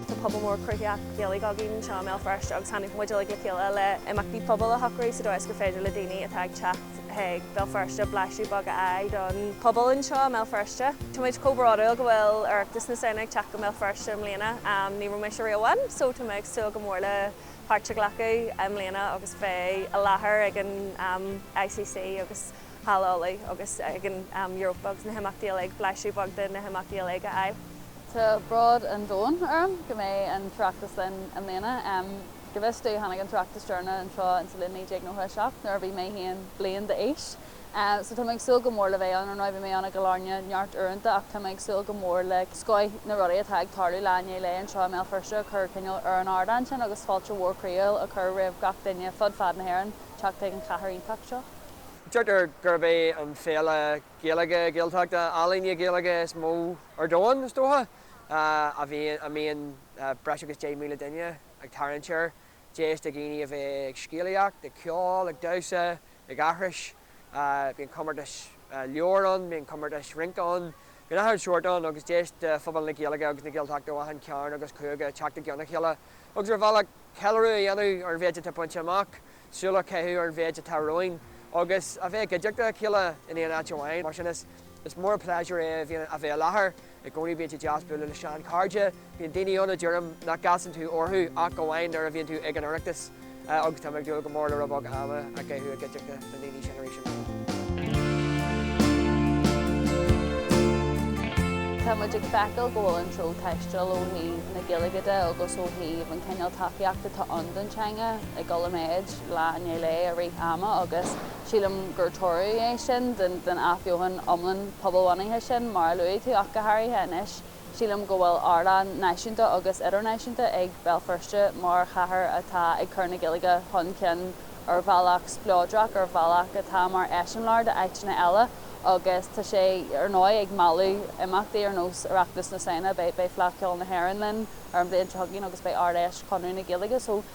Tá pobal mór cruthaitheach Gaeilge againn anseo i mBéal Feirste agus tháinig muid uilig le chéile le imeachtaí pobail a shocrú sa dóigh is gur féidir le daoine atá ag teacht chuig Béal Feirste blaiseadh beag a fháil don pobal anseo i mBéal Feirste. Táimid chomh bródúil go bhfuil Oireachtas na Samhna ag teacht go mBéal Feirste i mbliana. Ní raibh mise riamh ann so tá mé ag súil go mór le páirt a ghlacadh i mbliana agus bheith i láthair ag an ICC agus Halla Uladh agus ag an Europa agus na himeachtaí uilig, blaiseadh beag de na himeachtaí uilig a fháil. Tá bród an domhain orm go mbeidh an tOireachtas linn i mbliana. Go bhfios domh tháinig an tOireachtas deireanach anseo in sa bhliain 1997 nuair a bhí mé haon bliain d'aois. So tá mé ag súil go mór le bheith ann. Bhí mé ann i gCill Airne neart uaireanta ach tá mé ag súil go mór le scoth na rudaí atá ag tarlú lá i ndiaidh lae anseo i mBéal Feirste a chur cineál ar an ardán sin agus fáilte mhór chroíúil a chur roimh gach duine fud fad na hÉireann teacht chuig an chathair iontach seo. Deirtear gurb é an féile Gaeilge, Gaeltachta, ealaíne Gaeilge is mó ar domhan, is dócha, a bhíonn, a mbíonn breis agus 10,000 duine ag tarraingt air, deis do dhaoine a bheith ag scéalaíocht, ag ceol, ag damhsa, ag aithris. Bíonn comórtais leabhar ann, bíonn comórtais rince ann, bíonn achan sórt ann agus deis do phobal na Gaeilge agus na Gaeltachta ó achan cearn agus cúige teacht i gceann a chéile agus ar bhealach ceiliúradh a dhéanamh ar an mhéid atá bainte amach. súil a chaitheamh ar an mhéid atá romhainn agus a bheith i gcuideachta a chéile in aon áit amháin. Mar sin, is mór an pléisiúr é a bheith i láthair i gcónaí. Bíonn sé deas bualadh le seanchairde. Bíonn daoine ann a deirim nach gcasann tú orthu ach amháin nuair a bhíonn tú ag an Oireachtas agus tá mé ag dúil go mór le rud beag ama a chaitheamh i gcuideachta na ndaoine sin arís ann. Tá muid ag feiceáil go bhfuil an treo taisteal ó thaobh na Gaeilge de agus ó thaobh an cineál tacaíocht atá ann don teanga. ag dul i méid lá i ndiaidh lae i rith ama agus sílim gur toradh é sin den athbheochan iomlán pobalbhunaithe sin mar a luaigh tú ach go háirithe anois sílim go bhfuil ardán náisiúnta agus idirnáisiúnta ag Béal Feirste mar chathair atá ag cur na Gaeilge chun cinn ar bhealach spleodrach, ar bhealach atá mar eiseamláir d'áiteanna eile agus tá sé ar ndóigh ag mealladh imeachtaí ar nós Oireachtas na Samhna, beidh Fleadh Cheoil na hÉireann linn ar an bhliain seo chugainn agus beidh Ard-Fheis Chonradh na Gaeilge so.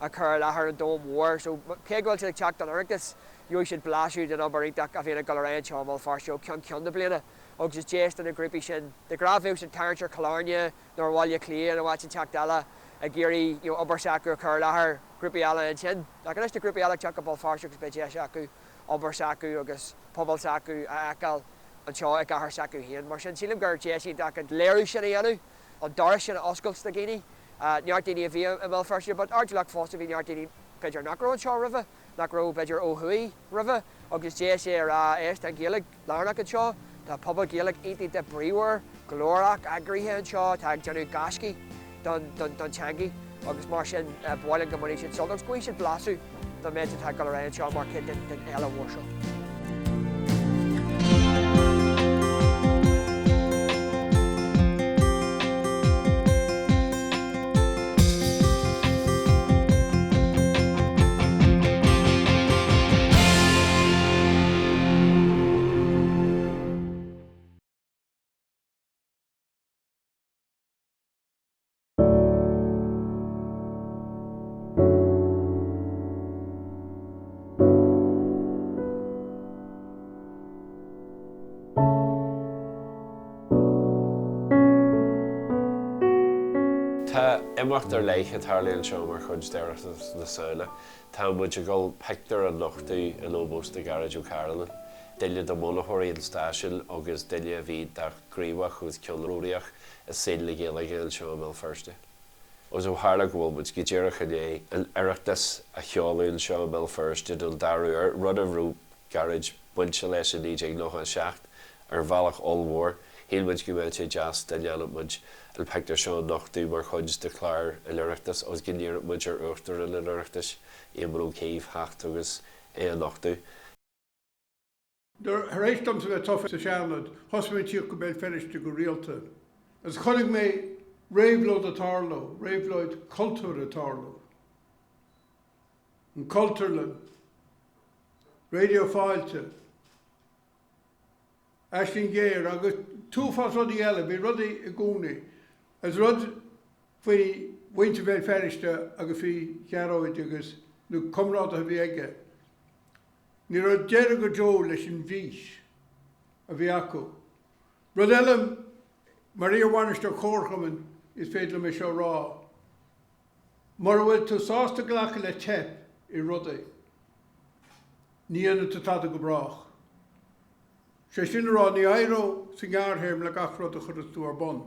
a chur i láthair an domhain mhóir. So cé go bhfuil siad ag teacht don Oireachtas, gheobhaidh siad blaiseadh den obair iontach a bhíonn ag dul ar aghaidh anseo i mBéal Feirste ó cheann ceann na bliana agus is deis do na grúpaí sin de ghnáth bheadh siad ag tarraingt ar Chill Airne nó ar Bhaile Átha Cliath nó áit inteacht eile ag iarraidh obair s'acu a chur i láthair grúpaí eile ansin. Ach anois tá grúpaí eile ag teacht go Béal Feirste agus beidh deis acu obair s'acu agus pobal s'acu a fheiceáil anseo i gcathair s'acu féin. Mar sin sílim gur deis iontach an léiriú sin a dhéanamh. an doras sin a oscailt do dhaoine, neart daoine a bhí i mBéal Feirste but ard lucht fosta bhí neart daoine b'fhéidir nach raibh anseo roimhe, nach raibh b'fhéidir ó thuaidh roimhe agus deis é a rá éist tá an Ghaeilge lárnach anseo, tá pobal Gaeilge iontach bríomhar, glórach, eagraithe anseo atá ag déanamh gaisce don teangaidh. agus mar sin b'áil linn go mbainfidh siad sult agus go bhfaighidh siad blaiseadh don méid atá ag dul ar aghaidh anseo mar chuid den fhéile mhór seo. Tá imeacht ar leith ag tarlú anseo mar chuid d'Oireachtas na Samhna. Tá muid ag dul pictiúr a nochtadh in ómós do Ghearóid Ó Cairealláin, duine de bhunaitheoirí an stáisiúin agus duine a bhí gníomhach agus ceannródaíoch i saol na Gaeilge anseo i mBéal Feirste. Agus ó tharla go bhfuil muid go díreach i ndiaidh an Oireachtas a sheoladh anseo i mBéal Feirste don dara uair, rud a raibh Gearóid bainte leis i 1997 ar bhealach ollmhór, shíl muid go mbeadh sé deas dá ndéanfadh muid an pictiúr seo a nochtadh mar chuid de chlár an Oireachtais agus go n-iarrfadh muid ar Uachtarán an Oireachtais, Éamon Ó Cuív, theacht agus é a nochtadh. Tar éis domsa bheith tofa sa Seanad, thosaigh mé ag tíocht go Béal Feirste go rialta, agus chonaic mé réabhlóid ag tarlú, réabhlóid cultúir ag tarlú. An Cultúrlann, Raidio Fáilte, Aisling Ghéar, agus tuafás rudaí eile, bhí rudaí i gcónaí. Agus rud faoi mhuintir Bhéal Feirste agus faoi Ghearóid agus na comrádaithe a bhí aige. Ní raibh deireadh go deo leis an bhfís a bhí acu. Rud eile, mar iar-bhainisteoir comharchumainn is féidir liom é seo a rá, mura bhfuil tú sásta glacadh le teip i rudaí, ní dhéanfaidh tú tada go brách. Sé sin le rá, ní éireoidh sa ngearrthéarma le gach rud a chuireanns tú ar bun.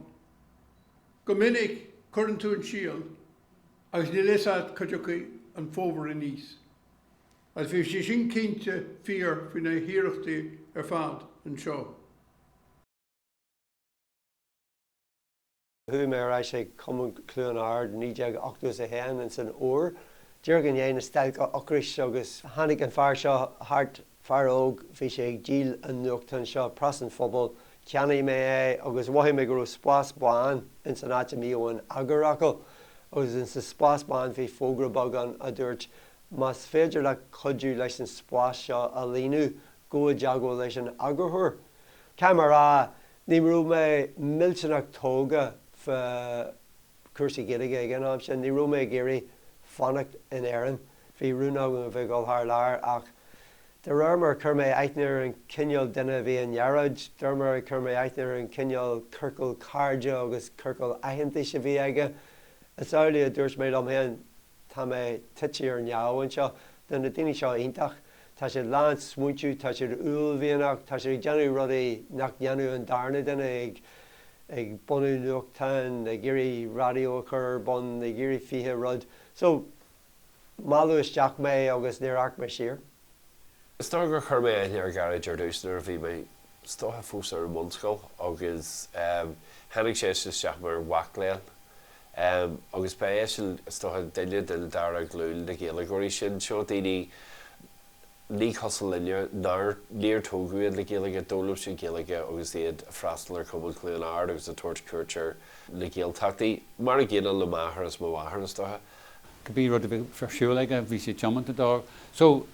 Go minic, cuireann tú an síol agus níl fhios a't cá dtiocfaidh an fómhar aníos. Ach bhí sé sin cinnte fíor faoi na hiarrachtaí ar fad anseo. Chuaigh mé ar ais ag Cumann Chluain Ard 1980 is a haon ins an fhómhar, díreach i ndiaidh na stailce ocrais agus tháinig an fear seo thart, fear óg, bhí sé ag díol an nuachtáin seo, Preas an Phobail, cheannaigh mé é agus mhothaigh mé go raibh spás bán ins an áit a mbíodh an t-eagarfhocal agus ins an spás bán bhí fógra beag ann a dúirt Más féidir leat cuidiú leis an spás seo a líonadh gabh i dteagmháil leis an eagarthóir. Caithfidh mé a rá, ní raibh mé millteanach tógha fá chúrsaí Gaeilge ag an am sin, ní raibh mé ag iarraidh fanacht in Éirinn, bhí rún agam a bheith ag dul thar lear ach de réir mar a chuir mé aithne ar an chineál duine a bhí i nGearóid, de réir mar a chuir mé aithne ar an chineál ciorcal cairde agus ciorcal aitheantais a bhí aige, is amhlaidh a dúirt mé liom féin, Tá mé tite ar neamh anseo. Tá na daoine seo iontach. Tá siad lán smaointiú, tá siad uaillmhianach, tá siad ag déanamh rudaí nach ndéanadh an darna duine, ag bunú nuachtáin, ag iarraidh raidió a chur ar bun, ag iarraidh fiche rud. So, mealladh isteach mé agus níor amharc mé siar. Is dócha gur chuir mé aithne ar Gharry ar dtús nuair a bhí mé is dócha fós ar an mbunscoil agus tháinig sé isteach mar mhac léinn agus ba é sin is dócha duine den dara glúin de Ghaeilgeoirí sin, seo daoine ní cosúil linne, nár, níor tógadh iad le Gaeilge, d'fhoghlaim siad Gaeilge agus iad a' freastal ar Chumann Chluain Ard agus a' tabhairt cuairt ar na Gaeltachtaí, mar a gcéanna le m'athair is mo mháthair is dócha. Cibé rud a bhí ar siúl aige bhí sé tiomanta dó. So,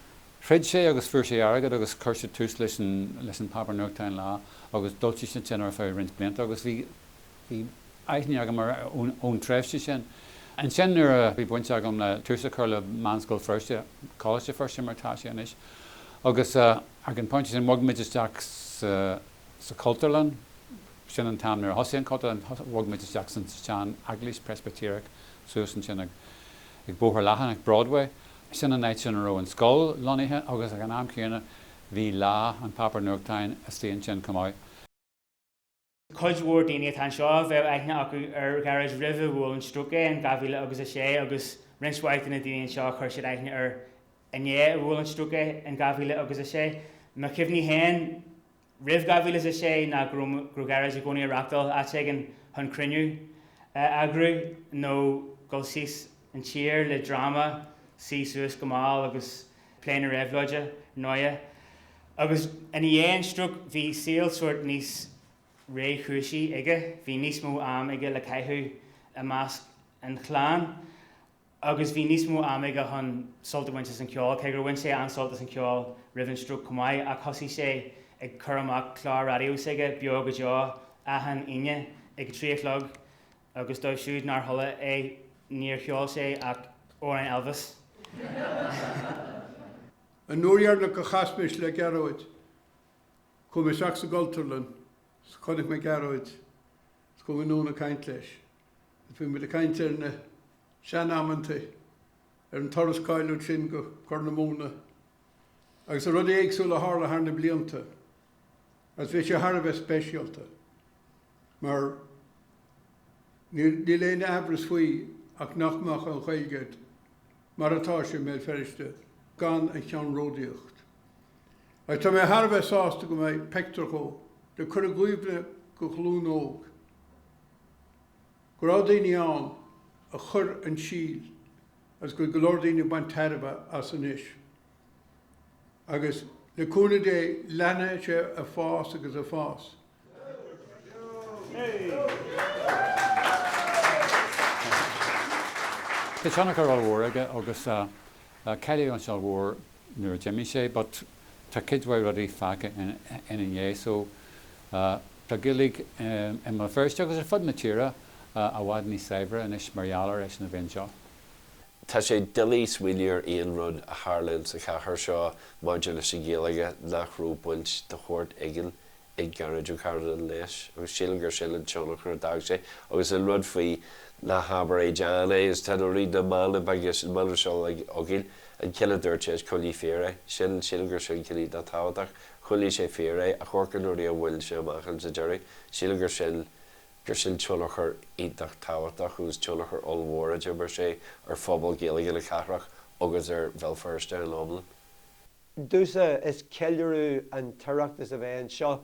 throid sé agus fuair sé airgead agus chuir sé tús leis an, leis an páipéar nuachta Lá agus d'fhoilsigh siad sin ar feadh roinnt blianta agus bhí, bhí aithne agam air ón, ón tréimhse sin. Ansin nuair a bhí baint agam le tús a chur le Meánscoil Feirste, Coláiste Feirste mar atá sé anois, agus eh, ag an bpointe sin bhog muid isteach sa, sa Chultúrlann. Sin an t-am nuair a thosaigh an Chultúrlann, bhog muid isteach san tseaneaglais Preispitéireach suas ansin ag ag Bóthar Leathan ag Broadway. Sin an áit sin a raibh an scoil lonnaithe agus ag an am céanna bhí Lá, an páipéar nuachtáin istigh ansin chomh maith. Cuid mhór daoine atá anseo a bheadh aithne acu ar Ghearóid roimh a bhuail an stróc é in 2000 agus 6 agus roinnt eicínt de na daoine anseo chuir siad aithne air inné a bhuail an stróc é in dhá mhíle agus a sé. Mo chuimhní féin roimh dhá mhíle is a sé ná go raibh Gearóid i gcónaí ag reachtáil áit éigin chun cruinniú a eagrú nó dul síos an tír le dráma, suí suas go mall agus plé na réabhlóide, ar ndóighe. Agus i ndiaidh an stróc bhí saol sórt níos réchúisí aige, bhí níos mó am aige le caitheamh i measc an chlann. agus bhí níos mó ama aige chun sult a bhaint as an cheol, cé gur bhain sé an-sult as an cheol roimh an stróc chomh maith, ach thosaigh sé ag cur amach clár raidió s'aige, Beo go Deo, achan Aoine ag a trí a chlog agus dóibh siúd nár chuala é, níor cheol sé ach amhráin Elvis. An uair dheireanach a chas mise le Gearóid, chuaigh mé isteach sa gCultúrlann, chonaic mé Gearóid, is chuaigh mé anonn ag caint leis. Bhí muid ag caint ar na sean amanntaí, ar an turas cáiliúil sin go Corr na Móna agus ar rudaí éagsúla a tharla thar na blianta agus bhí sé thar a bheith speisialta mar níl aon aimhreas faoi ach nach mbeadh an Ghaeilge mar atá sé i mBéal Feirste gan a cheannródaíocht. Agus tá mé thar a bheith sásta go mbeidh peictiúr dhó le cur i gcuimhne do ghlúin óg. go raibh daoine ann a chuir an síol agus go bhfuil go leor daoine ag baint tairbhe as anois agus le cúnamh Dé leanfaidh sé ag fás agus ag fás. Tá tionchar ollmhór aige agus caillteanas ollmhór nuair a d'imigh sé but tá cuid mhaith rudaí fágtha ina dhiaidh so tá Gaeilge i mBéal Feirste agus ar fud na tíre i bhfad níos saibhre anois mar gheall ar eisean a bheith anseo. Tá sé doiligh smaoineamh ar aon rud a tharlaíonn sa chathair seo maidir leis an Ghaeilge nach raibh baint de shórt éigin ag Gearóid Ó Cairealláin leis agus sílim gur sin an tionchar a d'fhág sé agus an rud faoi ná habair é déan é is teideal rí na manaí agus an mana seo le Ogill an ceann eile a dúirt sé is coinnigh fíor é sin sílim gur sin ceann atá tábhachtach choinnigh sé fíor é a Chorca nuair a bhuail sé amach an sa deireadh sílim gur sin gur sin tionchar iontach tábhachtach agus tionchar ollmhór a d'imir sé ar phobal Gaeilge na cathrach agus ar Bhéal Feirste in iomlán. Domhsa is ceiliúradh an tOireachtas a bheith anseo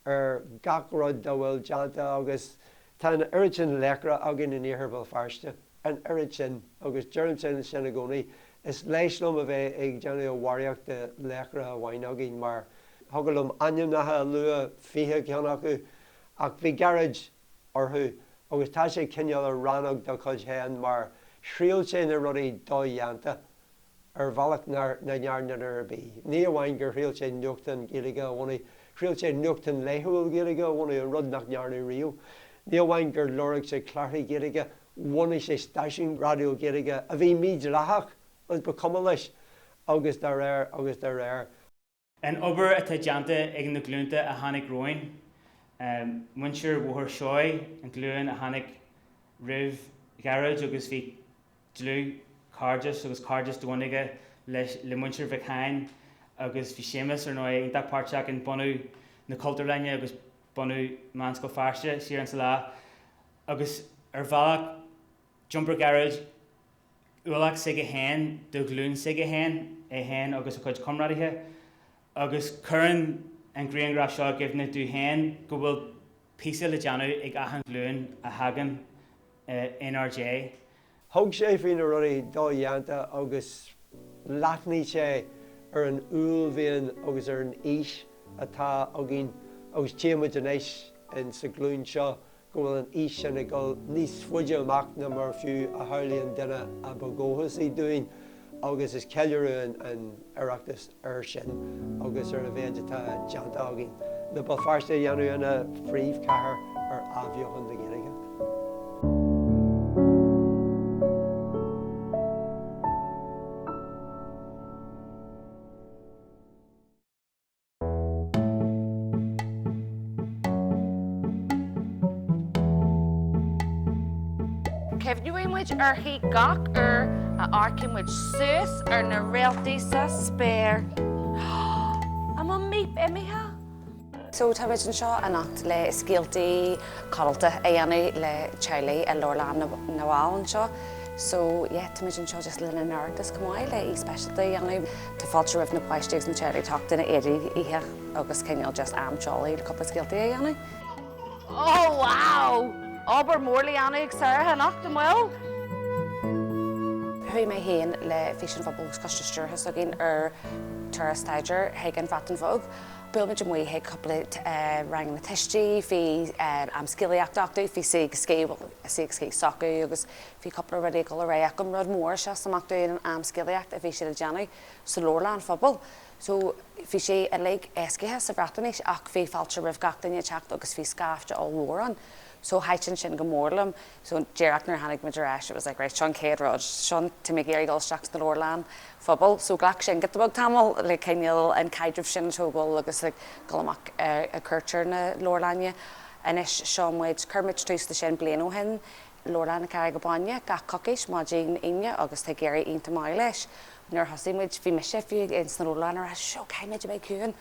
ar gach rud dá bhfuil déanta agus tá an oiread sin laochra againn in Iarthar Bhéal Feirste, an oiread sin agus deirimse sin i gcónaí, is leisc liom a bheith ag déanamh a bharraíocht de laochra amháin againn mar thiocfadh liom ainmneacha a lua, fiche ceann acu, ach bhí Gearóid orthu agus tá sé cineál ar rannóg dá chuid féin mar thriail sé na rudaí dodhéanta. ar bhealach nach ndearna duine ar bith. Ní amháin gur thriail sé nuachtán Gaeilge a bhunadh, thriail sé nuachtán laethúil Gaeilge a bhunadh, an rud nach ndearnadh riamh. Ní amháin gur lorg sé clárachaí Gaeilge, bhunaigh sé stáisiún raidió Gaeilge, a bhí mídhleathach, agus ba chuma leis, agus dá réir, agus dá réir. An obair atá déanta ag na glúnta a tháinig romhainn, muintir Bhóthar Seoighe, an ghlúin a tháinig roimh Ghearóid agus bhí dlúthchairdeas agus cairdeas domhain aige le muintir Mhic Sheáin agus bhí Séamus ar ndóigh iontach páirteach in bunú na Cultúrlainne agus bunú Meánscoil Feirste siar in sa lá agus ar bhealach D'iompair Gearóid ualach s'aige féin do ghlúin s'aige féin, é féin agus a chuid comrádaithe, agus cuireann an grianghraf seo i gcuimhne domh féin go bhfuil píosa le déanamh ag achan ghlúin a thagann in ár ndiaidh. Thug sé faoi na rudaí dodhéanta agus leathnaigh sé ar an uaillmhian agus ar an fhís atá againn agus tchí muid anois in sa ghlúin seo go bhfuil an fhís sin ag dul níos faide amach ná mar fiú a shamhlaigh an duine a ba dhóchasaí dúinn agus is ceiliúradh an Oireachtas air sin agus ar a mhéid atá déanta againn le Béal Feirste a dhéanamh ina phríomhchathair ar athbheochan na Gaeilge. Cuimhneoidh muid uirthi gach uair a amharcann muid suas ar na réaltaí sa spéir. An bhfuil Míp imithe? So tá muid anseo anocht le scéaltaí codlata a dhéanamh le teaghlaigh i Leabharlann na bhFál anseo. So yeah, tá muid anseo just le linn an Oireachtais chomh maith le oíche speisialta a dhéanamh. Tá fáilte roimh na páistí agus na teaghlaigh teacht ina éidí oíche agus cineál just am teolaí le cúpla scéaltaí a dhéanamh. Oh wow! Obair mór le dhéanamh ag Sarah anocht, an bhfuil? Chuaigh mé féin le Fís an Phobail agus Coiste Stiúrtha s'againn ar turas staidéir chuig an Bhreatain Bheag. Bhuail muid amuigh chuig cúpla ranganna tuistí, bhí am scéalaíochta acu, bhí Say agus Skate, Say agus Skate s'acu agus Bhí cúpla rudaí ag dul ar aghaidh acu, an rud mór a sheas amach domh an am scéalaíocht a bhí siad ag déanamh sa leabharlann phobail so bhí sé uilig éascaithe sa Bhreatnais ach bhí fáilte roimh gach duine ag teacht agus bhí scaifte ollmhór ann so thaitin sin go mór liom so díreach nuair a tháinig muid ar ais it was like right seo an chéad rud seo an táimid ag iarraidh dul isteach sna leabharlann phobail so ghlac sin giota beag tamall like cineál an caidreamh sin a thógáil agus like dul amach ar cuairt ar na leabharlainne anois seo muid chuir muid tús le sin bliain ó shin Leabharlann na Carraige Báine gach coicís maidin Aoine agus tá ag éirí iontach maith leis. Nuair a thosaigh muid bhí mise fiú ins na leabharlanna ag rá seo caithfidh muid a bheith ciúin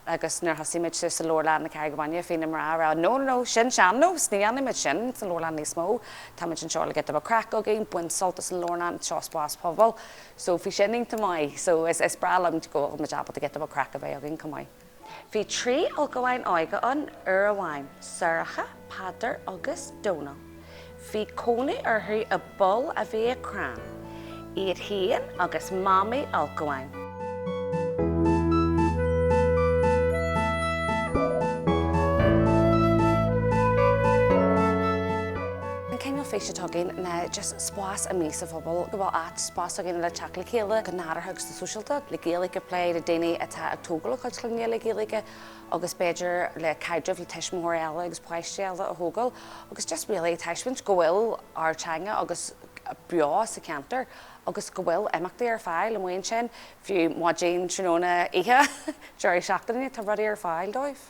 agus nuair a thosaigh muid sa Leabharlann na Carraige Báine bhí na mná ag rá no no no sin sean-nós ní dhéanann muid sin sa leabharlann níos mó tá muid anseo le giota craic againn baint sult as an leabharlann seo spás pobail so bhí sin iontach maith so is is breá liom go bhfuil muid ábalta giota craic a bheith againn chomh maith. Bhí trí ulchabháin óga ann uair amháin, Sorcha, Peadar agus Dónal. Bhí cónaí orthu i bpoll a bhí i crann, iad féin agus mamaí ulchabháin. An cineál fís atá againn ná just spás amuigh sa phobal, go bhfuil áit, spás againn le teacht le chéile go nádúrtha agus. sóisialta, le Gaeilge plé le daoine atá ag tógáil a gcuid clainne le Gaeilge agus b'fhéidir le caidrimh le tuismitheoirí eile agus páistí eile a thógáil agus just really taispeáint go bhfuil ár teanga agus beo sa cheantar agus go bhfuil imeachtaí ar fáil amuigh ansin fiú maidin, tráthnóna, oíche, deireadh seachtaine tá rudaí ar fáil dóibh.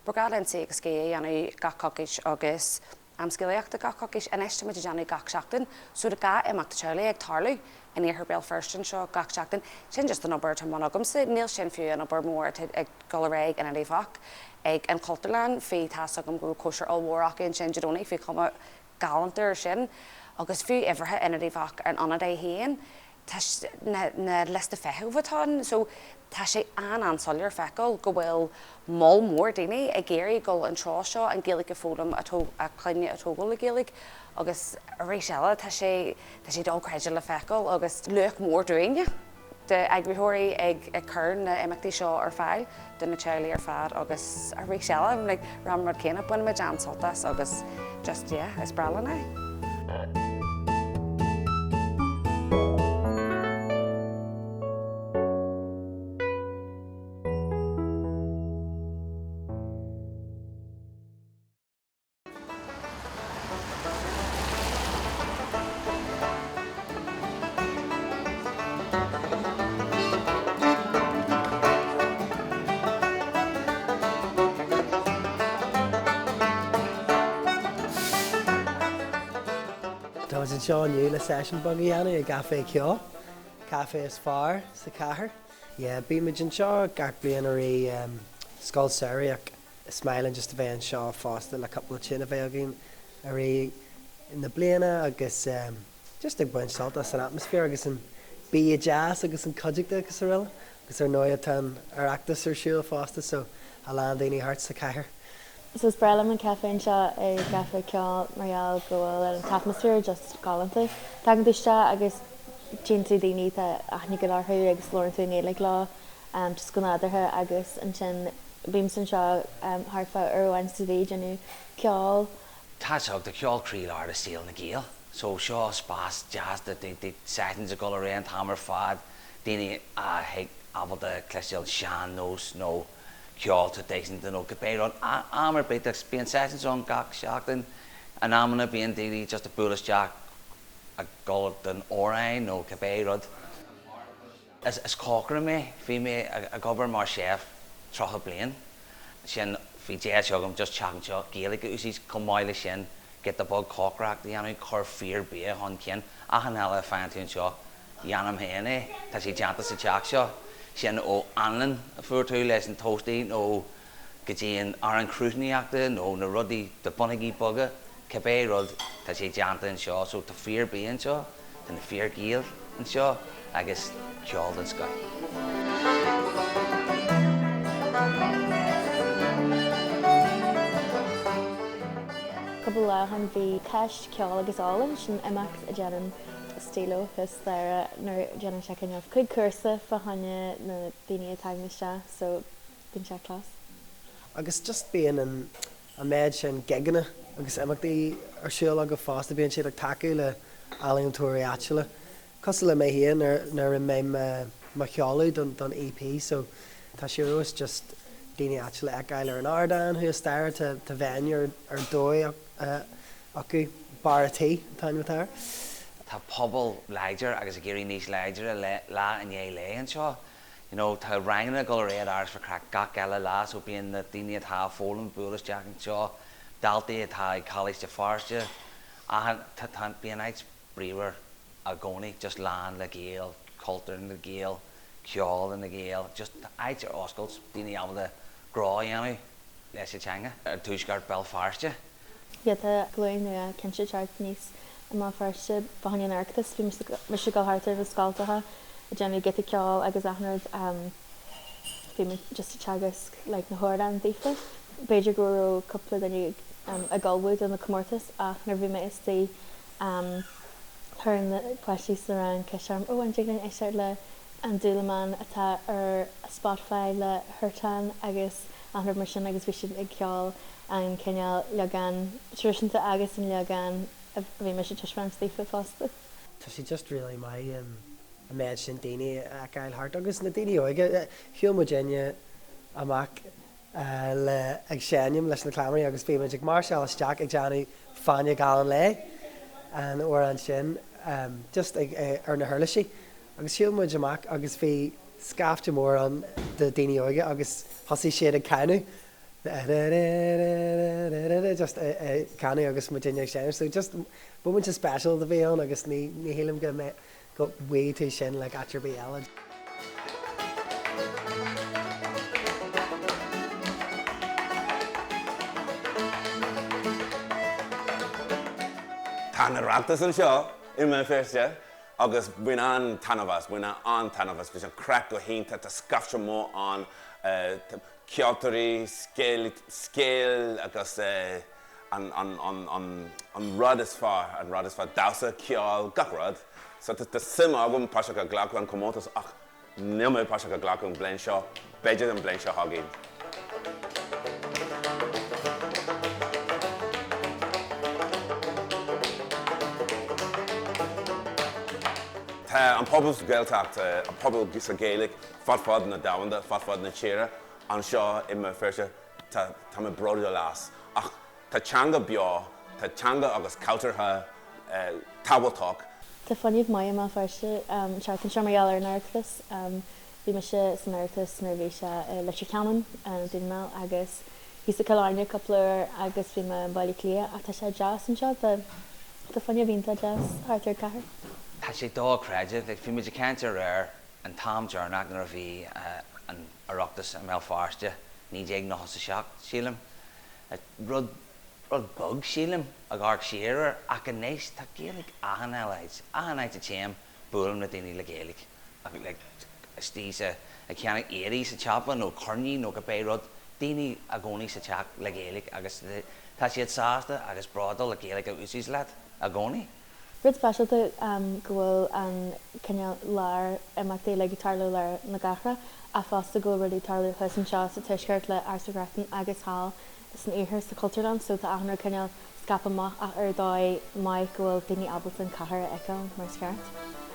Ba ghnách linn Suí agus Scíth a dhéanamh gach coicís agus. Am scéalaíochta gach coicís anois táimid ag déanamh gach seachtain so tá dhá imeacht teaghlaigh ag tarlú in iarthar Béal Feirste anseo gach seachtain. Sin just an obair atá i mbun agamsa, níl sin fiú an obair mhór atá ag dul ar aghaidh ag Ionad Uíbh Eachach, ag an Chultúrlann, bhí, tá 'fhios agam go raibh cóisir ollmhór acu ansin Dé Domhnaigh, bhí cuma galánta ar sin agus fiú uimhreacha Ionad Uíbh Eachach ar an ionad é féin, tá na liostaí feithimh atá ann so tá sé an-an-soiléir feiceáil go bhfuil moll mór daoine ag iarraidh dul an treo seo an Gaeilge a foghlaim a a clainne a tógáil le Gaeilge agus arís eile tá sé tá sé dochreidte le feiceáil agus luach mór dúinne de eagraitheoirí ag ag cur na imeachtaí seo ar fáil. do na teaghlaigh ar fad agus arís eile like rá an rud céanna bainimid an-sult as agus just yeah is breá linn é. Tá muid anseo inniu le session beag a dhéanamh i gCaifé Ceoil, caifé is fearr sa chathair. Yeah, bímid anseo gach bliain i rith Scoil Samhraidh ach Is maith linn just a bheith anseo fosta le cúpla tune a bheith againn i rith na bliana agus just ag baint sult as an atmosphere agus an bia deas agus an chuideachta agus aroile agus ar ndóigh tá an Oireachtas ar siúl fosta so a lán daoine thart sa cathair. So is breá liom an caife seo ag Caifé Ceoil mar gheall go bhfuil an t-atmosphere just galánta. Tagann tú isteach agus tchíonn tú daoine, tá aithne go leor orthu agus labhrann tú i nGaeilge leo just go nádúrtha agus ansin bímse anseo thart fá uair amháin sa mhí ag déanamh ceol. Tá sé ag Caifé Ceoil croílár i saol na Gaeil. So seo spás deas do sessions a dhul ar aon an t-am ar fad, daoine a bheith ábalta cloisteáil an sean nós nó ceol traidisiúnta nó cibé rud, am ar bith agus bíonn sessions ann gach seachtain, in amanna bíonn daoine just ag bualadh isteach ag dhul don amhrán nó cibé rud. Is cócaire mé. Bhí mé ag obair mar chef tríocha bliain. Ansin bhí deis agam just teach anseo Gaeilge a úsáid. Chomh maith leis sin, go dtig liom cócaireacht a dhéanamh, cur fíor bia chun cinn. Achan uile a faigheann tú anseo, dhéanaim féin é. Tá sé déanta sa teach seo. Sin ón anlann a fuair tú leis an toastie nó go dtí an arán cruithneachta nó na rudaí na bonnóga boga, cibé rud, tá sé déanta anseo. So tá fíorbhia anseo, tá na fíorGhaeil anseo agus ceol den scoth. Cúpla lá ó shin bhí Ceist, Ceol agus Ólann, sin imeacht a dhéanann Steelo is Dáire nuair a dhéanann sé cineál cuig cúrsa fá choinne na daoine a tagann isteach. So. bíonn sé class. Agus just bíonn an an méid sin gigeanna agus imeachtaí ar siúl acu fosta, bíonn siad ag tacú le ealaíontóirí áitiúla. Cosúil le mé féin nuair nuair a bhí mo sheoladh don don EP so tá sé ar fheabhas just daoine áitiúla a fheiceáil ar an ardán thuas staighre tá tá venue ar ar dóigh acu Barr an Tí a dtugtar air. Tá pobal láidir agus ag éirí níos láidre lá i ndiaidh lae anseo you know tá ranganna ag dul ar aghaidh Áras Mhic Reachtain gach eile lá so bíonn na daoine atá ag foghlaim ag bualadh isteach anseo daltaí atá ag Coláíste Feirste bíonn áit bríomhar i gcónaí just lán le Gaeil cultúr na nGael ceol na nGael just tá áit ar oscailt daoine ábalta grá a dhéanamh leis an teanga i dtuaisceart Bhéal Feirste. Yeah, tá glúin nua cinnte ag teacht aníos i mBéal Feirste, fá choinne an Oireachtais, bhí mise ag dul thart ar na scoltacha ag déanamh giota ceoil agus achan rud, bhí muid just ag teagasc like na hamhráin daofa, b'fhéidir go raibh cúpla duine ag ullmhú do na comórtais ach nuair a bhí mé istigh chuir na páistí sa rang ceist orm oh an dtig linn éisteacht le An Dúlamán atá ar Spotify le Huartan agus achan rud mar sin agus bhí siad ag ceol an cineál leagan traidisiúnta agus an leagan a bhí mise ag taispeáint daofa fosta. Tá sé just really maith an méid sin daoine a fheiceáil thart agus na daoine óga, shiúil muidinne amach le ag seinm leis na Cleamairí agus bhí muid ag máirseáil isteach ag déanamh Fáinne Geal an Lae an uair ansin just ag ar na huirlisí agus shiúil muid amach agus bhí scaifte mór ann de daoine óga agus thosaigh siad ag canadh just ag canadh agus muidinne ag seinm so just moment special a bhí ann agus ní ní shílim go bhfaighidh go bhfaighidh tú sin like áit ar bith eile. Tá an Oireachtas anseo i mBéal Feirste agus bain an-taitneamh as, bain an-taitneamh as, bhí an craic go hiontach, tá scaifte mór ann. ceoltóirí, scéal, scéal agus an, an, an, an, an rud is fearr, an rud is fearr, damhsa, ceol, gach rud. So tá, tá suim agam páirteach a ghlacadh an comórtas ach níl mé páirteach a ghlacadh an bhliain seo, b'fhéidir an bhliain seo chugainn. Tá an pobal sa Gaeltacht, an pobal sa Gaeilic fud fad na domhanda, fud fad na tíre, anseo i mBéal Feirste, tá, tá mé bródúil as. Ach tá teanga beo, tá teanga agus cultúrtha tábhachtach. Tá fuinneamh maith i mBéal Feirste an tseachtain seo mar gheall ar an Oireachtas. Bhí mise san Oireachtas nuair a bhí sé i Leitir Ceanainn, i nDún na nGall agus thíos i gCill Airne cúpla uair agus bhí mé i mBaile Átha Cliath ach tá sé deas anseo, tá, tá fuinneamh iontach deas thart ar an gcathair. Tá sé dochreidte, like, bhí muid ag caint aréir an t-am deireanach nuair a bhí an Oireachtas i mBéal Feirste, 1997 sílim, rud, rud beag sílim, ag amharc siar air ach anois tá Gaeilge achan áit, achan áit a téim buailim le daoine le Gaeilge ach like istigh sa, ag ceannacht earraí sa tsiopa nó coirnín nó cibé rud, daoine i gcónaí sa teach le Gaeilge agus tá siad sásta agus bródúil le Gaeilge a úsáid leat i gcónaí. Rud speisialta go bhfuil an cineál lár imeachtaí ag tarlú lár na cathrach ach fosta go bhfuil rudaí ag tarlú thuas anseo sa tuaisceart le Áras Mhic Reachtain agus thall san iarthar sa Chultúrlann so tá achan rud cineál scaipthe amach ach ar dhóigh mhaith go bhfuil daoine ábalta an cathair a fheiceáil mar is ceart.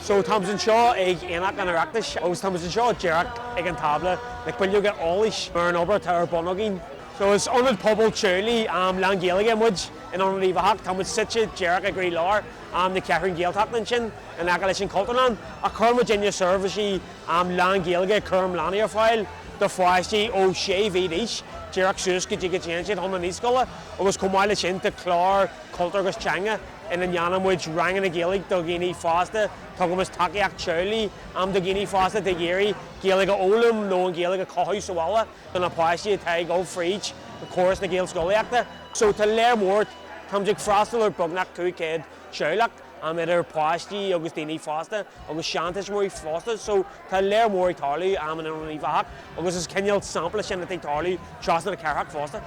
So tá muid anseo ag Aonach an Oireachtais agus tá muid anseo díreach ag an tábla le bileoga eolais ar an obair atá ar bun againn. So is ionad pobail teaghlaigh lán-Ghaeilge muid in Ionad Uíbh Eachach. Tá muid suite díreach i gcroílár na Ceathrún Gaeltachta ansin in aice leis an Chultúrlann ach cuireann muidinne seirbhísí lán-Ghaeilge, cúram leanaí, ar fáil do pháistí ó sé mhí d'aois díreach suas go dtí go dtéann siad chun na naíscoile agus chomh maith leis sin tá clár cultúir agus teanga ina ndéanann muid ranganna Gaeilge do dhaoine fásta, tugann muid tacaíocht teaghlaigh, am do dhaoine fásta atá ag iarraidh Gaeilge a fhoghlaim nó an Ghaeilge a chothú sa bhaile do na páistí atá ag dul fríd córas na Gaelscolaíochta. So tá lear mór, táimid ag freastal ar beagnach 500 teaghlach, am idir páistí agus daoine fásta agus seantuismitheoirí fosta, so tá lear mór ag tarlú, am in Ionad Uíbh Eachach agus is cineál sampla sin de cad atá ag tarlú trasna na cathrach fosta.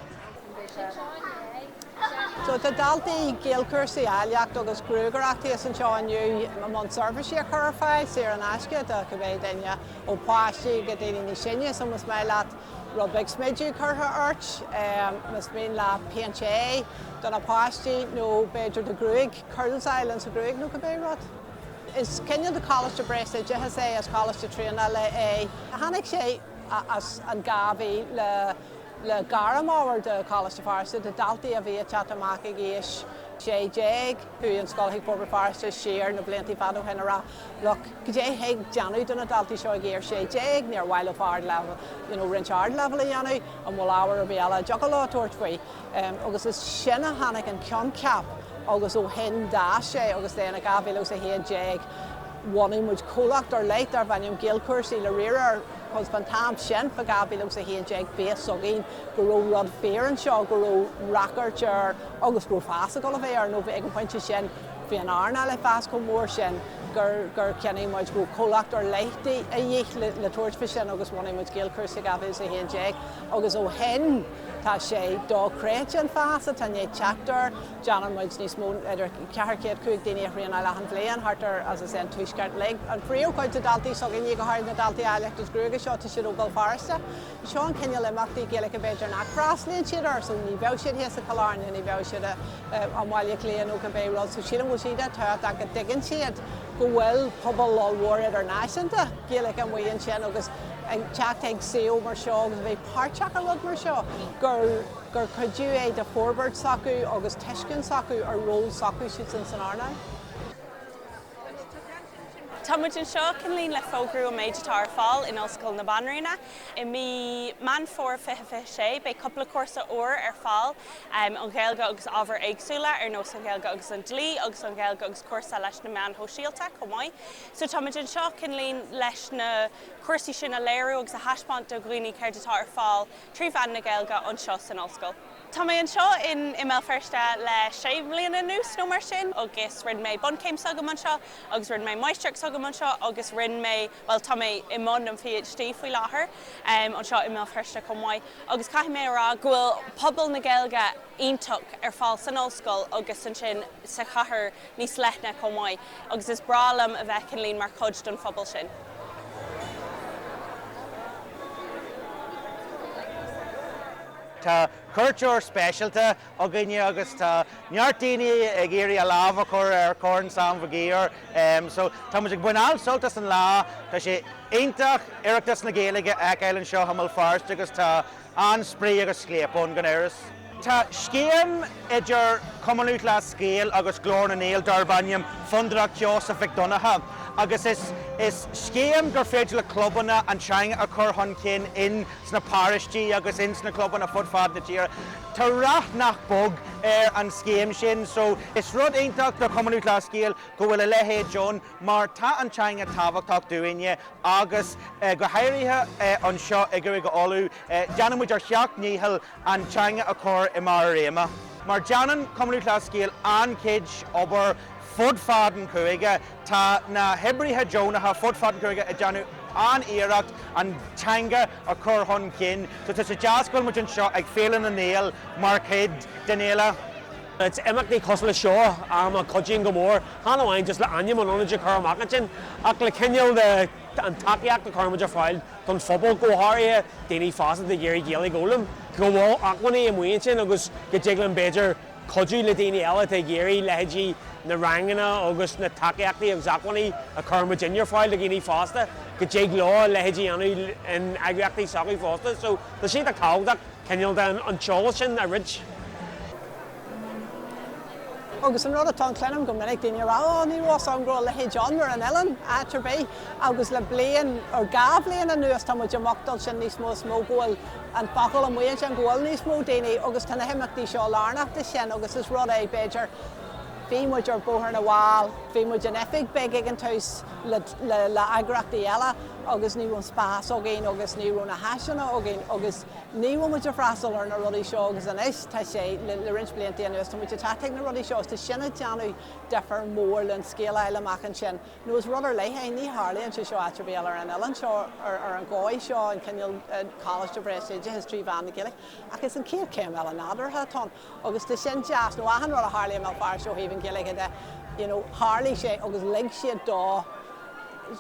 So tá daltaí Gaelchúrsaí áilleacht agus gruagaireacht thíos anseo inniu i mbun seirbhísí a chur ar fáil saor in aisce do cibé duine ó pháistí go daoine níos sine. So más maith leat rud beag smideadh curtha ort, más mian leat péint aghaidhe do na páistí nó b'fhéidir do ghruaig, curls a fháil ins an ghruaig nó cibé rud. Is cineál de choláiste breisoideachais é, is coláiste traenála é. Tháinig sé as an ghá faoi. le gairmábhair do Choláiste Feirste do dhaltaí a bhí ag teacht amach ag aois 16. Chuaigh an scoil chuig Forbairt Feirste siar na blianta fad ó shin a rá, look, goidé thig a dhéanamh do na daltaí seo ag aois 16, níor mhaith leo ard-leibhéal, you know, roinnt ard-leibhéal a dhéanamh, an bhfuil ábhar ar bith eile a thiocfadh leo tabhairt faoi? Agus is sin a tháinig an coincheap agus ó shin d'fhás sé agus then i 2011 bhunaigh muid comhlacht ar leith darbh ainm Gaelchúrsaí le riar ar Fán am sin, fá 2011, bhí fhios againn go raibh rud fíor anseo, go raibh ráchairt air agus go raibh fás ag dul a bheith air nó bhí ag an pointe sin bhí an earnáil ag fás chomh mór sin gur gur chinntigh muid go raibh comhlacht ar leith de dhíth le le tabhairt faoi sin agus bhunaigh muid Gaelchúrsaí i 2011 agus ó shin tá sé dochreidte an fás atá i ndiaidh teacht air Déanann muid níos mó ná idir 400, 500 duine a thraenáil achan bhliain thart ar, as I say, an tuaisceart uilig. An phríomhchuid de dhaltaí s'againne, go háirid na daltaí áilleacht is gruaige seo, tá siad ó Bhéal Feirste. Seo an cineál imeachtaí Gaeilge b'fhéidir nach bhfreastlaíonn siad air so ní bheadh siad thíos i Cill Airne, ní bheadh siad i mBaile Átha Cliath nó cibé rud so sílim go bhfuil sé an-tábhachtach go dtuigeann siad go bhfuil pobal ollmhór idirnáisiúnta Gaeilge amuigh ansin agus ag teacht ag suíomh mar seo agus a bheith páirteach i rud mar seo gur gur cuidiú é de forbairt s'acu agus tuiscint s'acu ar ról s'acu siadsan san earnáil. Tá muid anseo cineál le fógrú an méid atá ar fáil in Ollscoil na Banríona. I mí Meán Fómhair 2026 beidh cúpla cúrsa úr ar fáil, an Ghaeilge agus ábhair éagsúla ar nós an Ghaeilge agus an Dlí agus an Ghaeilge agus cúrsa leis na meáin shóisialta chomh maith. So tá muid anseo cineál leis na cúrsaí sin a léiriú agus a thaispeáint do dhaoine céard atá ar fáil trí mheán na Gaeilge anseo san Ollscoil. Tá mé anseo in i mBéal Feirste le sé bhliana anuas nó mar sin agus rinne mé bunchéim s'agam anseo agus rinne mé máistreacht s'agam anseo agus rinne mé, bhuel tá mé i mbun an PhD faoi láthair anseo i mBéal Feirste chomh maith agus caithfidh mé a rá go bhfuil pobal na Gaeilge iontach ar fáil san Ollscoil agus ansin sa chathair níos leithne chomh maith agus is breá liom a bheith cineál mar chuid don phobal sin. Tá cuairteoir speisialta againne agus tá neart daoine ag iarraidh a lámh a chur ar Chorn Sam Mhig Uidhir so tá muid ag baint an-sult as an lá. Tá sé iontach Oireachtas na Gaeilge a fheiceáil anseo i mBéal Feirste agus tá an-spraoi agus scléip ann gan amhras. Tá scéim idir Cumann Lúthchleas Gael agus Glór na nGael darb ainm Fondúireacht Sheosaimh Mhic Dhonncha agus is scéim gur féidir le clubanna an teanga a chur chun cinn in sna paróistí agus in sna clubanna fud fad na tíre. Tá rath nach beag ar an scéim sin so is rud iontach do Chumann Lúthchleas Gael go bhfuil a leithéid ann mar tá an teanga tábhachtach dúinne agus go háirithe anseo i gCúige Uladh déanann muid ár sheacht ndícheall an teanga a chur i mbarr a réime. Mar déanann Cumann Lúthchleas Gael an-chuid obair fud fad an chúige, tá na hoibrithe deonacha fud fad an chúige ag déanamh an-iarracht an teanga a chur chun cinn. So tá sé deas go bhfuil muid anseo ag Féile na nGael mar chuid den fhéile. It's imeachtaí cosúil le seo a cuidíonn go mór, chan amháin just le ainm an ionaid a chur amach ansin, ach le cineál an tacaíocht a chuireann muid ar fáil don phobal, go háirithe daoine fásta atá ag iarraidh Gaeilge a fhoghlaim, go bhfuil acmhainní amuigh ansin agus go dtig linn b'fhéidir cuidiú le daoine eile atá ag iarraidh, leithéidí na ranganna agus na tacaíochtaí agus acmhainní a chuireann muidinne ar fáil do dhaoine fásta, go dtig leo a leithéidí a dhéanamh in eagraíochtaí s'acu fosta. So tá sé iontach tábhachtach cineál de an t-eolas sin a roinnt. Agus an rud atá ann cluinim go minic daoine a rá ó ní raibh fhios a'm go raibh a leithéid ann ar an oileán, áit ar bith agus le bliain nó dhá bhliain anuas tá muid ag mothachtáil sin níos mó is mó go bhfuil an focal amuigh ansin go bhfuil níos mó daoine agus tá na himeachtaí seo lárnach de sin agus is rud é b'fhéidir bhí muid ar Bhóthar na bhFál, bhí muid in oifig beag ag an tús le le le eagraíochtaí eile agus ní raibh an spás againn agus ní raibh na háiseanna againn agus. Ní bhíonn muid ag freastal ar na rudaí seo agus anois tá sé, le roinnt blianta anuas, tá muid ag teacht chuig na rudaí seo agus tá sin ag déanamh difear mór leis an scéal a fháil amach ansin nó is rud ar leith é, ní tharlaíonn sé seo áit ar bith eile ar an oileán seo ar an dhóigh seo, an cineál Coláiste Breisoideachais trí mheán na Gaeilge ach is an chéad chéim eile nádúrtha atá ann. Agus tá sin deas, nó achan rud a tharlaigh i mBéal Feirste ó thaobh an Ghaeilge de, you know, tharlaigh sé agus lig siad dó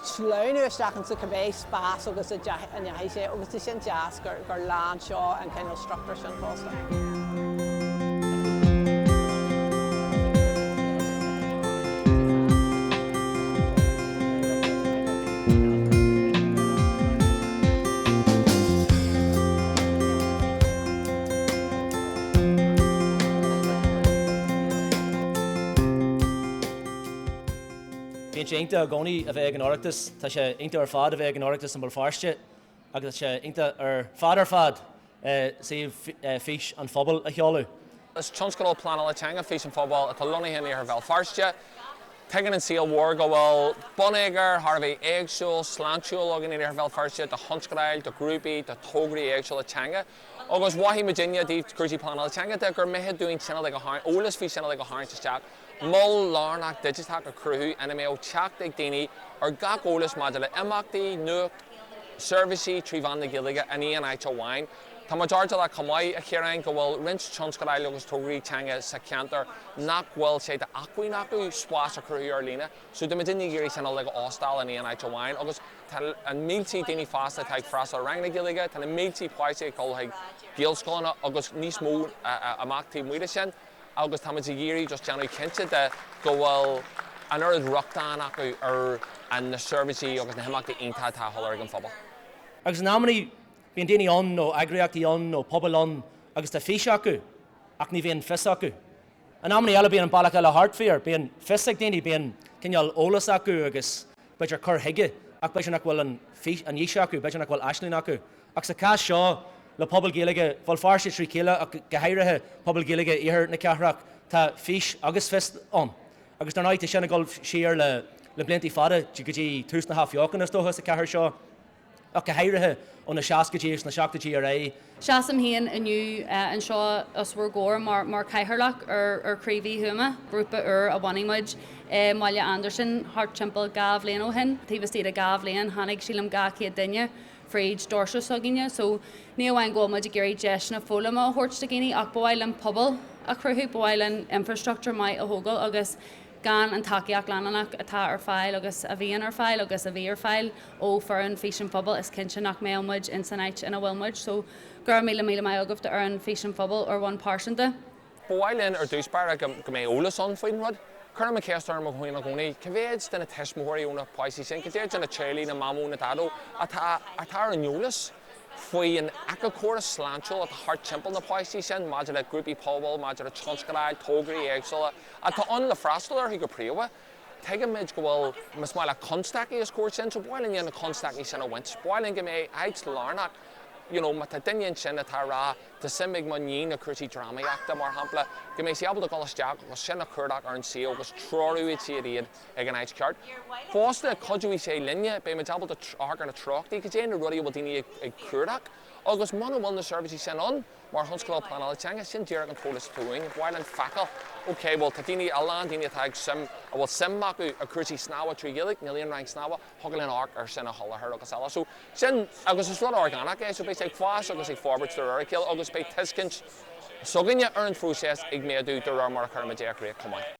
sleamhnú isteach insa cibé spás agus a ndeachaigh sé agus tá sin deas gur, gur lean seo an cineál struchtúir sin fosta. Bíonn sé iontach i gcónaí a bheith ag an Oireachtas. Tá sé iontach ar fad a bheith ag an Oireachtas i mBéal Feirste agus tá sé iontach ar fad ar fad suíomh Fís an Phobail a sheoladh. Is tionscadal pleanála teanga Fís an Phobail atá lonnaithe in iarthar Bhéal Feirste. Tuigeann an saol mhór go bhfuil bonneagar thar a bheith éagsúil, sláintiúil againn in iarthar Bhéal Feirste do thionscadail, do ghrúpaí, do thograí éagsúla teanga. Agus mhothaigh muidinne i dtaobh cúrsaí pleanála teanga de gur mithid dúinn cineál lúb a tharraingt, eolas faoi chineál lúb a tharraingt isteach, mol lárnach digiteach a chruthú ina mbeadh teacht ag daoine ar gach eolas maidir le imeachtaí, nuacht, seirbhísí trí mheán na Gaeilge in aon áit amháin. Tá muid airdeallach chomh maith, a Chiaráin, go bhfuil roinnt tionscadail agus tograí teanga sa cheantar nach bhfuil sé d'acmhainn acu spás a chruthú ar líne. So, tá muidinne ag iarraidh cineál lúb a óstáil in aon áit amháin agus. Tá na mílte daoine fásta atá ag freastal ar ranganna Gaeilge, tá na mílte páistí ag dul chuig Gaelscoileanna agus níos mó amach taobh amuigh de sin agus táimid ag iarraidh just déanamh cinnte de go bhfuil an oiread rochtain acu ar na seirbhísí agus na himeachtaí iontacha atá á sholáthar ag an phobal. Agus in amannaí bíonn daoine ann nó eagraíochtaí ann nó pobail ann agus tá fís acu ach ní bhíonn fios acu. In amannaí eile bíonn an bealach eile thart fíor, bíonn fios ag daoine, bíonn cineál eolas acu agus b'fhéidir cur chuige ach b'fhéidir nach bhfuil an fís, an fhís acu, b'fhéidir nach bhfuil aisling acu. Ach sa chás seo le pobal Gaeilge Bhéal Feirste trí chéile ach go háirithe pobal Gaeilge iarthar na cathrach tá fís agus fios ann agus dar ndóigh tá sin ag dul siar le blianta fada go dtí tús na hathbheochana is dócha sa chathair seo. ach go háirithe ó na seascaidí agus na seachtóidí ar aghaidh. Seasaim féin inniu anseo os bhur gcomhair mar Chathaoirleach ar Chraobh Uí Thuama, grúpa úr a bhunaigh muid i mBaile Andarsan thart timpeall dhá bhliain ó shin. Taobh istigh de dhá bhliain tháinig sílim dhá chéad duine fríd doirse s'againne, so ní amháin go bhfuil muid ag iarraidh deiseanna foghlama a thabhairt do dhaoine ach ba mhaith linn pobal a chruthú, ba mhaith linn infrastructúr maith a thógáil agus. Gan an tacaíocht leanúnach atá ar fáil agus a bhíonn ar fáil agus a bhí ar fáil ó fhoireann Fís an Phobail is cinnte nach mbeadh muid in san áit ina bhfuil muid. So, go raibh míle míle maith agaibh do fhoireann Fís an Phobail ar bhonn pearsanta. Ba mhaith linn ar dtús báire go go mbeidh eolas ann faoin rud. Cuirim an cheist orm féin i gcónaí, cé mhéid de na tuismitheoirí ó na páistí sin, cé mhéid de na teaghlaigh, na mamó, na daideo, atá atá ar an eolas faoi an éiceachóras sláintiúil atá thart timpeall na páistí sin maidir le grúpaí pobail, maidir le tionscadail, tógraí éagsúla. atá ann le freastal orthu go príomha. Tuigimid go bhfuil más maith leat constaicí os comhair sin, so ba mhaith linn na constaicí sin a bhaint. Ba mhaith linn go mbeidh áit lárnach, you know, má tá duine ansin atá a' rá tá suim ag mo níon i gcúrsaí drámaíochta mar shampla, go mbeidh sí ábalta dul isteach agus sin a chuardach ar an suíomh agus treoróidh siad iad chuig an áit cheart. Fosta, cuideoidh sé linne, beidh muid ábalta amharc ar na treochtaí, cad é na rudaí a bhfuil daoine ag cuardach agus muna bhfuil na seirbhísí sin ann, Mar thionscadal pleanála teanga, sin díreach an t-eolas atá uainn. Ba mhaith linn feiceáil, ok, bhuel, tá daoine, a lán daoine atá ag suim, a bhfuil suim acu i gcúrsaí snámha trí Ghaeilge, níl aon rang snámha, thiocfadh linn amharc ar sin a sholáthar agus eile. So, sin, agus is rud orgánach é, so beidh sé ag fás agus ag forbairt de réir a chéile agus beidh tuiscint s'againne ar an phróiseas ag méadú de réir mar a chuirimid é i gcrích chomh maith.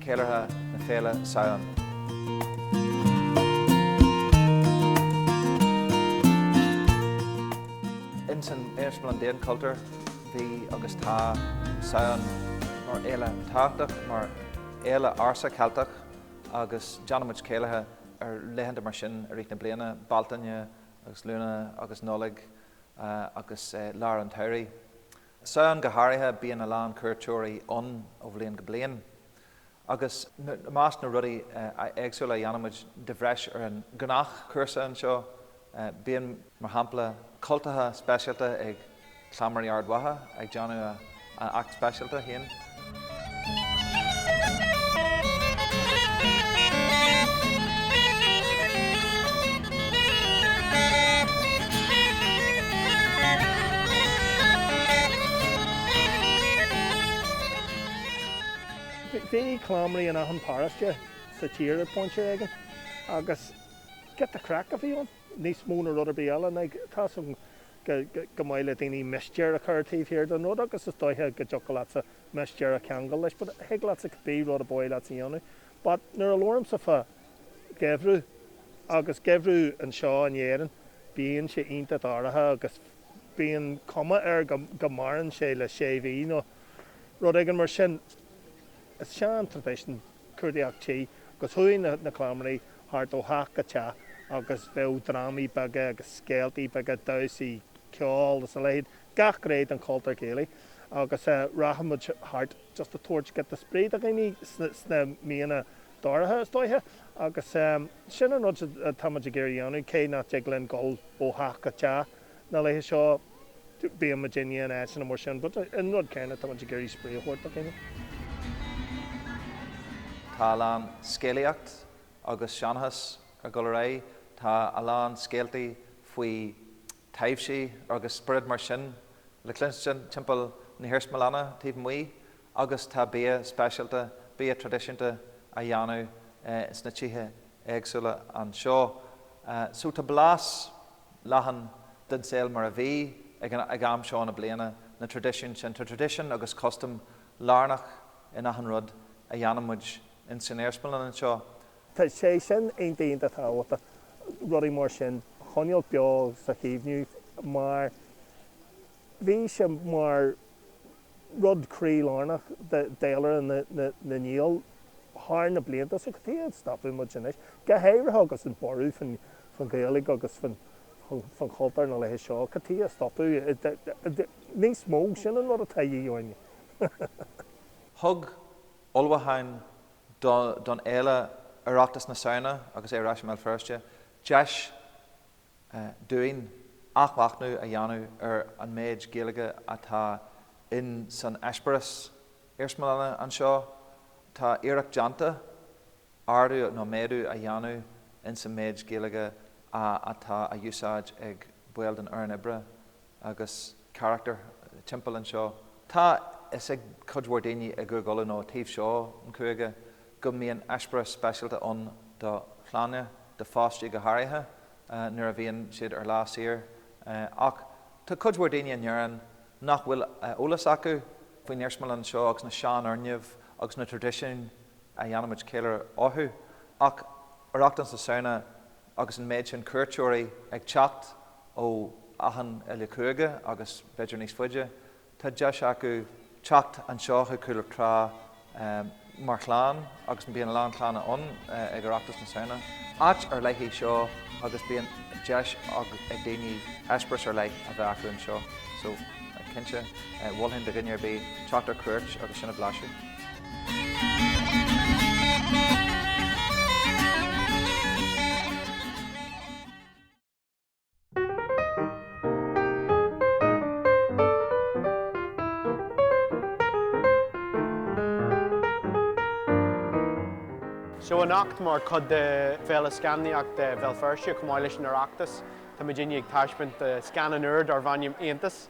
ceiliúrtha na féile Samhain. Insan Armagh Palace Demesne Cultúr, bhí agus tá Samhain mar fhéile tábhachtach, mar fhéile ársa Ceilteach agus déanaimid céilithe ar laethanta mar sin i rith na bliana, Bealtaine agus Lúnasa agus Nollaig agus lár an tsamhraidh. Samhain go háirithe, bíonn a lán cuairteoirí ann ó bhliain go bliain agus i measc na rudaí éagsúla a dhéanaimid de bhreis ar an ghnáthchúrsa anseo bíonn, mar shampla, cultacha speisialta ag Cleamairí Ard Mhacha ag déanamh an act speisialta féin. Bhí cleamairí in achan paróiste sa tír ag pointe éigin agus giota craic a bhí ann, níos mó ná rud ar bith eile. Agus tá's agam gur maith le daoine mistéir a chur taobh thiar den rud agus is dóiche go dtiocfadh leatsa mistéir a cheangal leis but thig leatsa cibé rud ba mhaith leatsa a dhéanamh. But nuair a labhraímse fá gheimhreadh agus geimhreadh anseo in Éirinn bíonn sé iontach dáiríre agus bíonn cuma air go maireann sé le sé mhí nó rud éigin mar sin. Is sean tradition. cuartaíocht tí agus chuaigh na cleamairí thart ó theach go teach agus bheadh drámaí beaga agus scéaltaí beaga, damhsaí, ceol is a leithéid, gach gné den chultúr céilí agus rachadh muid thart just ag tabhairt giota spraoi do dhaoine sna míonna dorcha is dóiche agus sin an rud atáimid ag iarraidh a dhéanamh cé nach dtig linn dhul ó theach go teach. na laetha seo bíonn muid á dhéanamh in áiteanna mar sin but an rud céanna tá muid ag iarraidh spraoi a thabhairt do dhaoine. Tá a lán scéalaíocht agus seanchas ag dul ar aghaidh, tá a lán scéaltaí faoi taibhsí agus spioraid mar sin le cluinstin timpeall na hiarsmalainne taobh amuigh agus tá bia speisialta, bia traidisiúnta á dhéanamh sna tithe éagsúla anseo. So tá blas leathan den saol mar a bhí ag am seo na bliana, na traidisiúin sin. Tá traidisiún agus custaim lárnach in achan rud a dhéanann muid in san iarsmalann anseo. Tá sé sin iontach tábhachtach, rudaí mar sin a choinneáil beo is a chaomhnú mar bhí sé mar rud croílárnach d'fhéilire na nGael thar na blianta so cad chuige a stopfadh muid anois? Go háirithe agus an borradh faoin Ghaeilge agus faoin chultúr na laetha seo, cad chuige a stopfadh? Níos mó, sin an rud atá de dhíth orainn. Thug ullmhúcháin don fhéile Oireachtas na Samhna, agus é ar ais i mBéal Feirste, deis dúinn athmhachnamh a dhéanamh ar an méid Gaeilge atá in san eispéireas iarsmalainne anseo. Tá iarracht déanta ardú nó méadú a dhéanamh in san méid Gaeilge atá á úsáid ag baill den fhoireann oibre agus carachtair timpeall anseo. Tá fhios ag cuid mhór daoine i gCúige Uladh nó taobh seo an chúige, go mbíonn eispéireas speisialta ann do chlainne, do pháistí go háirithe nuair a bhíonn siad ar lá saor ach tá cuid mhór daoine in Éirinn nach bhfuil eolas acu faoin iarsmalann seo agus na seanfhoirgnimh agus na traidisiúin a dhéanaimid ceiliúradh orthu ach Oireachtas na Samhna agus an méid sin cuairteoirí ag teacht ó achan uile chúige agus b'fhéidir níos faide. Tá deis acu teacht anseo chuig Cúl Trá mar chlann agus bíonn a lán clanna ann ag Oireachtas na Samhna. Áit ar leith í seo agus bíonn deis ag daoine eispéireas ar leith a bheith acu anseo so cinnte mholfainn do dhuine ar bith teacht ar cuairt agus sin a bhlaiseadh. Seo anocht mar chuid de Féile Scannánaíochta Bhéal Feirste chomh maith leis an Oireachtas tá muidne ag taispeáint scannan úr darbh ainm Aontas.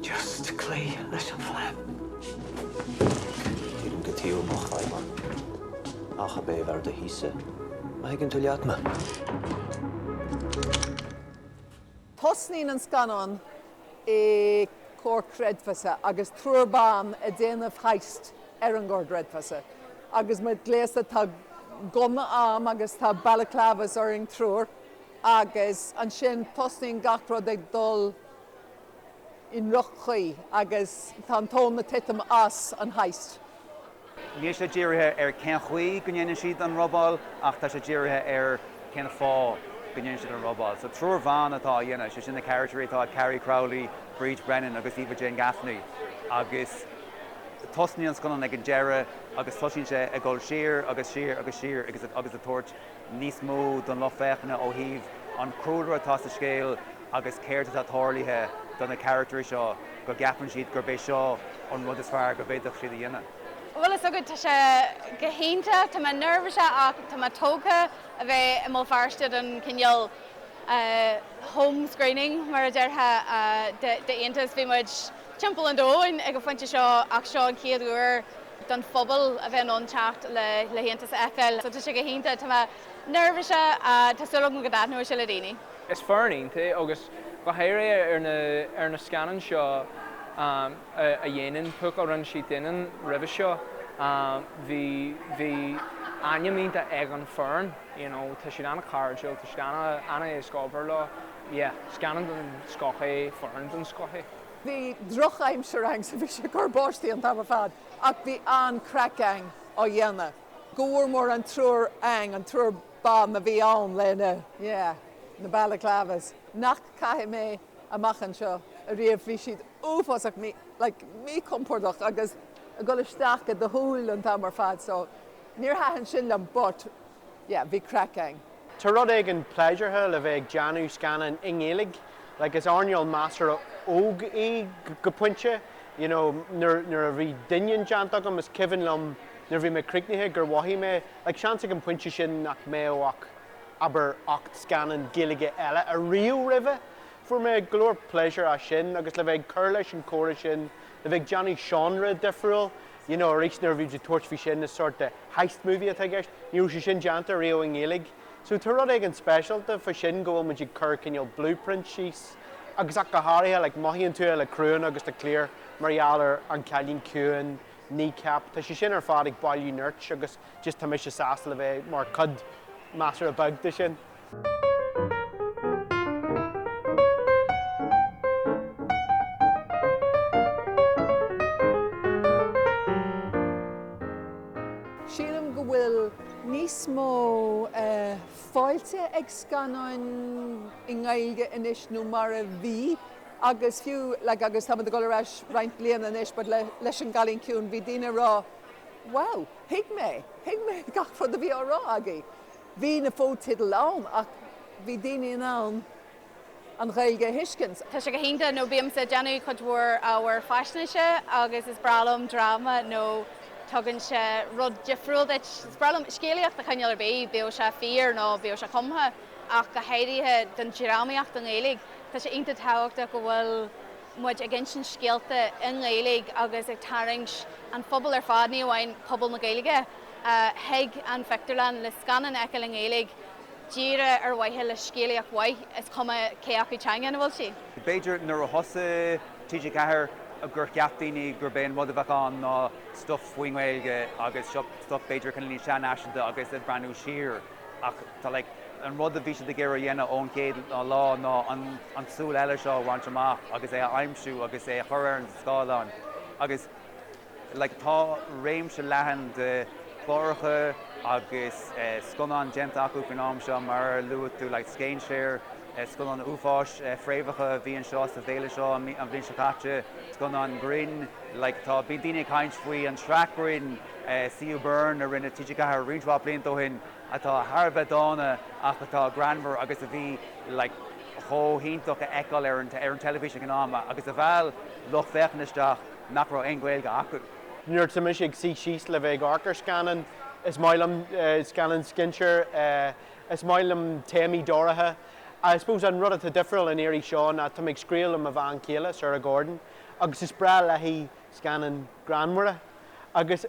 Just cloí leis an phlean. Cuirim go taobh mo chraidhmeann. Ach ab fhearr do thíos-sa. Má thuigeann tú leat me. Tosnaíonn an scannán i gcomhar creidmheasa agus triúr ban ag déanamh heist ar an gcomhar creidmheasa. Agus muid gléasta tá gunna againn agus tá balaclavas orainn triúr agus ansin tosnaíonn gach rud ag dul i ndroch-chaoi agus tá an tóin ag titim as an heist. Níl sé dírithe ar cén chaoi go ndéanann siad an robáil ach tá sé dírithe ar cén fáth go ndéanann siad an robáil. So triúr ban atá á dhéanamh, sé sin na caractairí atá ag Carrie Crowley, Bríd Brennan agus Eva Jane Gaffney agus tosnaíonn an scannán ag an deireadh agus tosaíonn sé ag dul siar agus siar agus siar agus ag tabhairt níos mó don lucht féachana ó thaobh an chúlra atá sa scéal agus céard atá tarlaithe do na caractairí seo go gceapann siad gurb é seo an rud is fearr go bhféadfadh siad a dhéanamh. Bhfuil a fhios agat, tá sé go hiontach, tá mé neirbhíseach ach tá mé tógtha a bheith i mBéal Feirste don cineál home screening mar a déarfá d'Aontas. Bhí muid. timpeall an domhain ag an phointe seo ach seo an chéad uair don phobal a bheith in ann teacht le hAontas a fheiceáil so tá sé go hiontach. Tá mé neirbhíse ach tá súil agam go dtaitneoidh sé le daoine. Is foireann iontach agus go háirithe ar na scannáin seo a dhéanann Púca a rinne siad Doineann roimhe seo bhí bhí ainm iontach ag an foireann you know tá siad an-chairdiúil tá siad an-éasca obair leo. yeah, scannán den scoth é, foireann den scoth é. Bhí drochaimsir againn so bhí sé ag cur báistí an t-am ar fad ach bhí an-chraic againn á dhéanamh. Go mór mór an triúr againn, an triúr ban a bhí ann leis na, yeah, na balaclavas nach caithfidh mé amach anseo ariamh. Bhí siad uafásach mí, like, míchompordach agus ag dul isteach i do shúil an t-am ar fad so níor thaitin sin liom but, yeah, bhí craic againn. Tá rud éigin pléisiúrtha le bheith ag déanamh scannán i nGaeilge, like is eárnáil measartha óg í go pointe, you know, nuair, nuair a bhí Doineann déanta agam is cuimhin liom nuair a bhí mé críochnaithe gur mhothaigh mé, like seans ag an bpointe sin nach mbeadh ach, abair, ocht scannán Gaeilge eile ariamh roimhe. Fuair mé go leor pléisúir as sin agus le bheith ag cur leis an chomhrá sin, le bheith ag déanamh seánra difriúil, you know, arís nuair a bhí tú ag tabhairt faoi sin is sort de heist movie atá i gceist, ní raibh sé sin déanta riamh i nGaeilge. So tá rud éigin speisialta fá sin go bhfuil muid ag cur cineál blueprint síos agus ach go háirithe like mothaíonn tú é le criúnna agus le cliar mar gheall ar An Cailín Ciúin, Kneecap, tá sé sin ar fad ag bailiú nirt agus just tá mise sásta le bheith mar cuid measartha beag de sin. Sílim go bhfuil níos mó fáilte ag scannáin i nGaeilge anois nó mar a bhí agus fiú like agus táimid ag dul ar ais roinnt bliana anois but le leis an gCailín Ciúin bhí daoine ag rá wow thuig mé, thuig mé gach rud a bhí á rá agaibh. Bhí na fotheidil ann ach bhí daoine in ann an Ghaeilge a thuiscint. Tá sé go hiontach nó bímse ag déanamh cuid mhór ábhair faisnéise agus is breá liom dráma nó tugann sé rud difriúil duit. Is breá liom scéalaíocht de chineál ar bith, bíodh sé fíor nó bíodh sé cumtha, ach go háirithe don drámaíocht i nGaeilge. Tá sé iontach tábhachtach go bhfuil muid ag insint scéalta i nGaeilge agus ag tarraingt an phobail ar fad, ní amháin pobal na Gaeilge, chuig an phictiúrlann le scannán a fheiceáil i nGaeilge díreach ar mhaithe le scéalaíocht mhaith, is cuma cé acu teanga ina bhfuil sí. B'fhéidir nuair a thosaigh TG4 gur cheap daoine gurb é an rud a bheadh ann ná stuif faoin nGaeilge agus seo stuif b'fhéidir cineál níos seanfhaiseanta agus ag breathnú siar ach tá like an rud a bhí siad ag iarraidh a dhéanamh ón gcéad lá ná an an tsúil eile seo a bhaint amach agus é a aimsiú agus é a chur ar an scáileán agus like tá réimse leathan de chláracha agus scannáin déanta acu faoin am seo mar a luaigh tú like scéinséir, scannáin uafáis, Fréamhacha a bhí anseo sa bhféile seo an bhliain seo caite, scannáin grinn like tá bíonn daoine ag caint faoin tsraith grinn CU Burn a rinne TG4 roinnt mhaith blianta ó shin atá thar a bheith dána ach atá greannmhar agus a bhí like chomh hiontach a fheiceáil ar an teilifís ag an am agus a mheall lucht féachana isteach. nach raibh aon Ghaeilge acu. Nuair atá mise ag suí síos le bheith ag amharc ar scannán, is maith liom scannáin scéinséir, is maith liom téamaí dorcha. I suppose an rud atá difriúil an iarraidh seo ná tá mé ag scríobh le mo bhean chéile, Sarah Gordon, agus is breá léi scannáin greannmhara. Agus.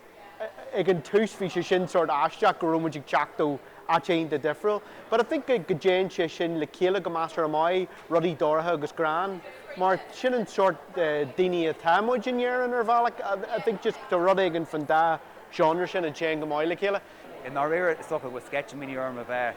ag an tús bhí sé sin sort aisteach go raibh muid ag teacht ó áit iontach difriúil but I think go dtéann sé sin le chéile go measartha maith, rudaí dorcha agus greann mar sin an sort daoine atá muid in Éirinn ar bhealach I think just tá rud éigin fán dá genre sin a théann go maith le chéile. I ndáiríre is dócha go bhfuil sceitimíní orm a bheith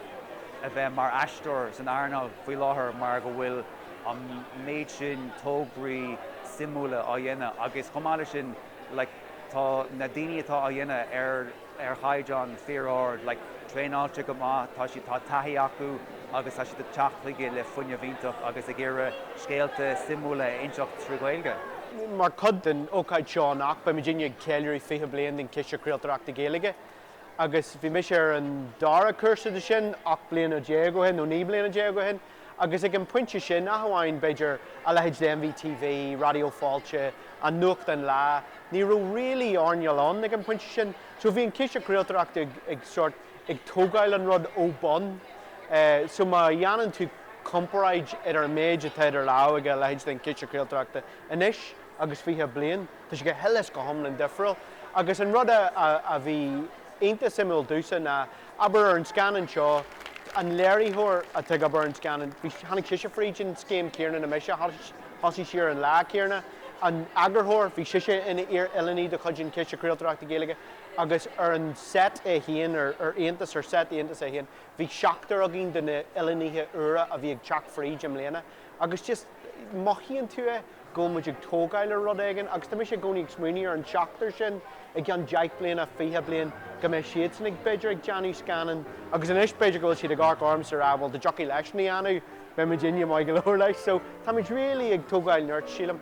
a bheith mar aisteoir san earnáil faoi láthair mar go bhfuil an méid sin tógraí suimiúla á dhéanamh agus chomh maith leis sin, like tá na daoine atá á dhéanamh ar ar chaighdeán fíor-ard like traenáilte go maith tá siad tá taithí acu agus tá siad ag teacht chuige le fuinneamh iontach agus ag iarraidh scéalta suimiúla a inseacht trí Ghaeilge. Mar chuid den ócáid seo anocht beidh muidinne ag ceiliúradh 20 bliain den Chiste Craoltóireachta Gaeilge agus bhí mise ar an dara cúrsa de sin 18 bliana ó shin nó 19 bliana ó shin. Agus ag an bpointe sin, ach amháin, b'fhéidir, a leithéid de NVTV, Raidió Fáilte, an nuachtán Lá, ní raibh really earnáil ann ag an bpointe sin. So bhí an Ciste Craoltóireachta ag, ag sort, ag tógáil an rud ó bun. Eh, so má dhéanann tú comparáid idir an méid atá idir lámha ag a leithéid den Chiste Craoltóireachta anois agus fiche bliain, Tá sé go huile is go hiomlán difriúil. Agus an rud a bhí iontach suimiúil domhsa ná, abair ar an scannán seo, an léiritheoir atá ag obair ar an scannán, tháinig sise fríd an scéim chéanna le mise, thosaigh sí ar an lá céanna. An t-eagarthóir, bhí sise ina hoiliúnaí de chuid an Chiste Craoltóireachta Gaeilge agus ar an seit é féin, ar Aontas, ar seit Aontas é féin, bhí seachtar againn de na hoiliúnaithe úra a bhí ag teacht fríd i mbliana. Agus just. mothaíonn tú é, go bhfuil muid ag tógáil ar rud éigin agus tá mise i gcónaí ag smaoineamh ar an seachtar sin i gceann deich bliana, fiche bliain, go mbeidh siadsan ag, b'fhéidir ag déanamh scannán agus anois b'fhéidir go bhfuil siad ag amharc ormsa ag rá bhuel dá dtiocfadh leisean a dhéanamh, beidh muidinne maith go leor leis so tá muid really ag tógáil nirt sílim.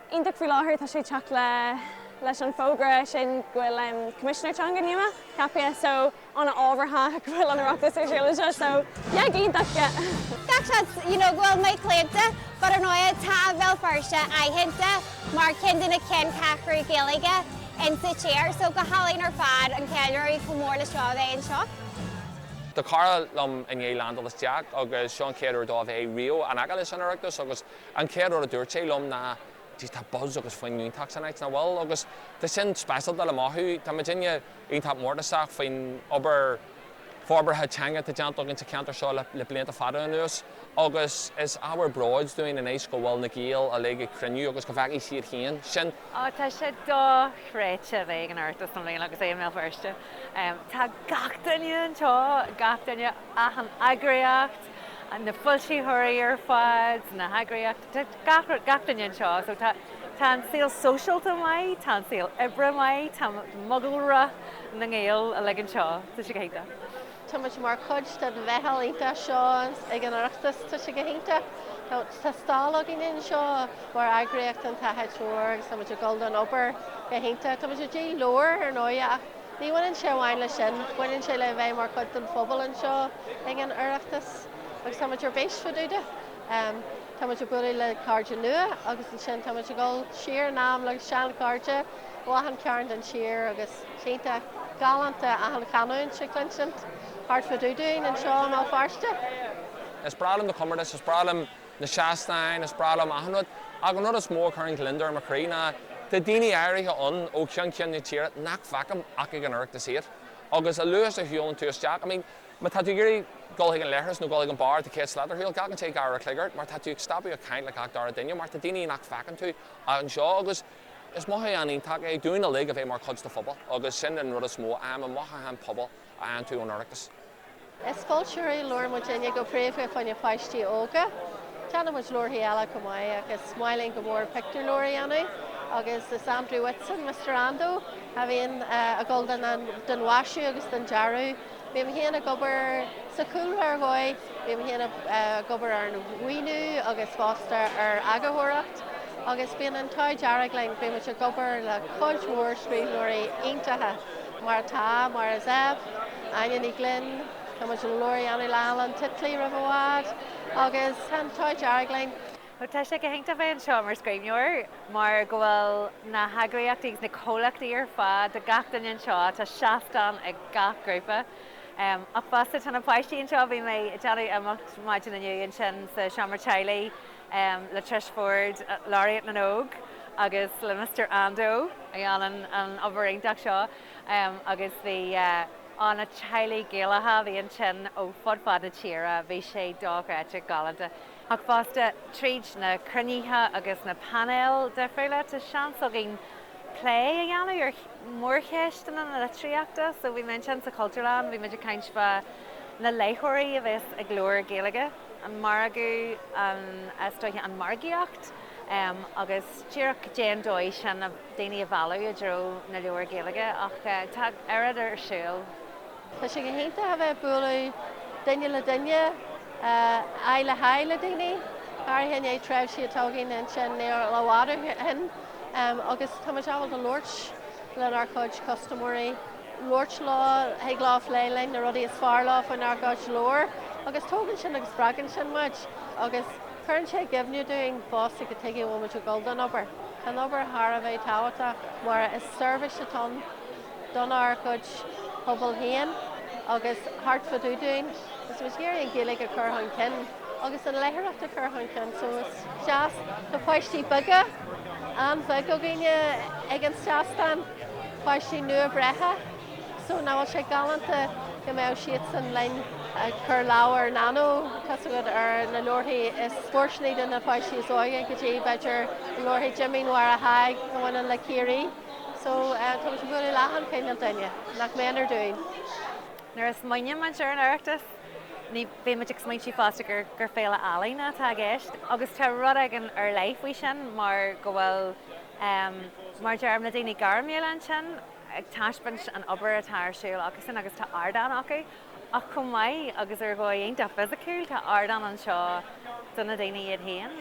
iontach faoi láthair. Tá sé ag teacht le leis an fógra sin go bhfuil Coimisinéir Teanga nua ceaptha, so an-ábhartha go bhfuil an tOireachtas ar siúl anseo, so yeah, go hiontach, yeah. Gach seans, you know, go bhfuil mé claonta, but ar ndóigh tá Béal Feirste aitheanta mar ceann de na ceanncheathrú Gaeilge in sa tír, so go hálainn ar fad an ceiliúradh chomh mór le seo a bheith anseo. Tá cara liom i ndiaidh leaindeáil isteach agus seo an chéad uair dó bheith riamh in aice leis an Oireachtas agus An chéad rud a dúirt sé liom ná, Jeez, tá buzz agus fuinneamh iontach san áit, nach bhfuil? Agus tá sin speisialta le mothú. Tá muidinne iontach mórtasach faoin obair forbartha teanga atá déanta againn sa cheantar seo le blianta fada anuas agus is ábhar bróid dúinn anois go bhfuil na Gaeil uilig ag cruinniú agus go bhfeicfidh siad féin sin. Ó, tá sé dochreidte a bheith ag an Oireachtas i mbliana agus é i mBéal Feirste. Tá gach duine anseo, gach duine, achan eagraíocht, na foilsitheoirí ar fad, na heagraíochtaí, gach duine anseo. So tá an saol sóisialta maith, tá an saol oibre maith, tá mogalra na nGael uilig anseo, tá sé go hiontach. Tá muid mar chuid den mheitheal iontach seo ag an Oireachtas, tá sé go hiontach. Tá stalla againn anseo mar eagraíocht An tSnáthaid Mhór agus tá muid ag dul don obair go hiontach. Tá muid ag díol leabhar ar ndóigh ach. Ní bhaineann sé amháin le sin, baineann sé le bheith mar chuid den phobal anseo ag an Oireachtas agus tá muid ar bís fá dtaobh de. Tá muid ag bualadh le cairde nua agus ansin tá muid ag dul siar in am le seanchairde ó achan chearn den tír agus tá sé iontach galánta achan chanúint a chluinsint thart fá dtaobh dúinn anseo i mBéal Feirste. Is breá liom na comórtais, is breá liom na seastáin, is breá liom achan rud, ach an rud is mó a chuireann gliondar ar mo chroí ná tá daoine áirithe ann ó cheann ceann na tíre nach bhfeicim ach ag an Oireachtas iad. Agus a luaithe is a shiúlann tú isteach, I mean, má tá tú ag iarraidh dul chuig an leithreas nó dul chuig an beár atá 100 slat ar shiúl, glacann sé dhá uair a chloig ort mar tá tú ag stopadh ag caint le gach dara duine mar tá daoine nach bhfeiceann tú ach anseo agus is mothúchán iontach é dúinn uilig a bheith mar chuid de phobal agus sin an rud is mó em, an mothúchán pobail. a fhaigheann tú ón Oireachtas. Is foilsitheoirí leabhar muidinne go príomha fá choinne páistí óga. Déanann muid leabharthaí eile chomh maith ach is maith linn go mór pictiúrleabhair a dhéanamh agus is Andrew Whitson, Mister Ando, a bhíonn ag dul don don mhaisiú agus don dearadh. Bím féin ag obair sa chúlra ar dhóigh, bím féin ag obair ar an mhaoiniú agus fosta ar eagarthóireacht agus bíonn an t-ádh dearg linn, bíonn muid ag obair le cuid mhór scríbhneoirí iontacha. mar atá, Máire Zepf, Áine Ní Ghlinn, tá muid chun leabhar a dhéanamh le Alan Titley roimh i bhfad agus tá an t-ádh dearg linn. Bhuel, tá sé go hiontach bheith anseo mar scríbhneoir mar go bhfuil na heagraíochtaí agus na comhlachtaí ar fad, tá gach duine anseo, tá seastán ag gach grúpa. Ach fosta tá na páistí anseo, bhí mé ag déanamh imeacht maidin inniu ansin sa seomra teaghlaigh, le Trish Forde, Laureate na nÓg, agus le Mister Ando a dhéanann an obair iontach seo agus bhí, ó, na teaghlaigh Gaelacha a bhí ansin ó fud fad na tíre, bhí sé dochreidte galánta. Ach fosta, tríd na cruinnithe agus na painéil difriúla tá seans againn plé a dhéanamh ar mhórcheisteanna na litríochta so bhí mé ansin sa Chultúrlann, bhí muid ag caint fá na léitheoirí a bheas ag leabhair Ghaeilge. an margadh, an, is dóiche, an margaíocht, em, agus díreach cad é an dóigh sin a, daoine a mhealladh i dtreo na leabhar Gaeilge ach, eh, tá oiread ar siúl. Tá sé go hiontach a bheith ag bualadh duine le duine, eh, aghaidh le haghaidh le daoine, go háirithe i ndiaidh tréimhse atá againn ansin níl i bhfad ó shin, em, agus tá muid ábalta labhairt lenár gcuid custaiméirí. labhairt leo, thig leo plé linn, na rudaí is fearr leo faoinár gcuid leabhar agus tógann sin agus spreagann sin muid agus cuireann sé i gcuimhne dúinn fosta cad chuige go bhfuil muid ag dul don obair. Tá an obair thar a bheith tábhachtach mar is seirbhís atá ann donár gcuid pobal féin agus thart fá dtaobh dúinn agus tá muid ag iarraidh an Ghaeilge a chur chun cinn. agus an léitheoireacht a chur chun cinn so is deas na páistí beaga an-bheag againne ag an seastán, páistí nua-bhreithe so nach bhfuil sé galánta go mbeadh siadsan linn ag cur leabhar ina ndóid tá a fhios agat ar na leabharthaí is fóirsteanaí do na páistí is óige go dtí b'fhéidir leabharthaí Jimín Mháire Thaidhg a bhaineann le Ciarraí so tá muid ag bualadh le hachan chineál duine nach méanar dúinn. Nuair a smaoiníonn muid ar an Oireachtas. Ní bheidh muid ag smaointiú fosta gur féile ealaíne atá i gceist agus tá rud éigin ar leith faoi sin mar go bhfuil, mar a deirim, na daoine gairmiúla ansin ag taispeáint an obair atá ar siúl acusan agus tá ardán acu ach chomh maith agus ar dhóigh iontach fisiciúil tá ardán anseo do na daoine iad féin,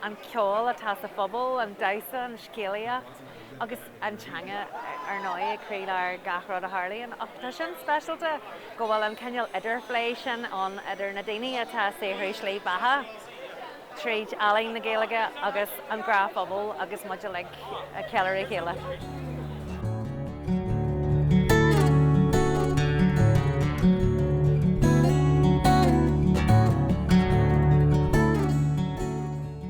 an ceol atá sa phobal, an damhsa, an scéalaíocht agus. an teanga, ar ndóigh, ag croílár gach rud a tharlaíonn ach tá sin speisialta go bhfuil an cineál idirphlé sin ann idir na daoine atá ag saothrú slí beatha tríd ealaín na Gaeilge agus an gnáthphobal agus muid uilig ag ceiliúradh a chéile.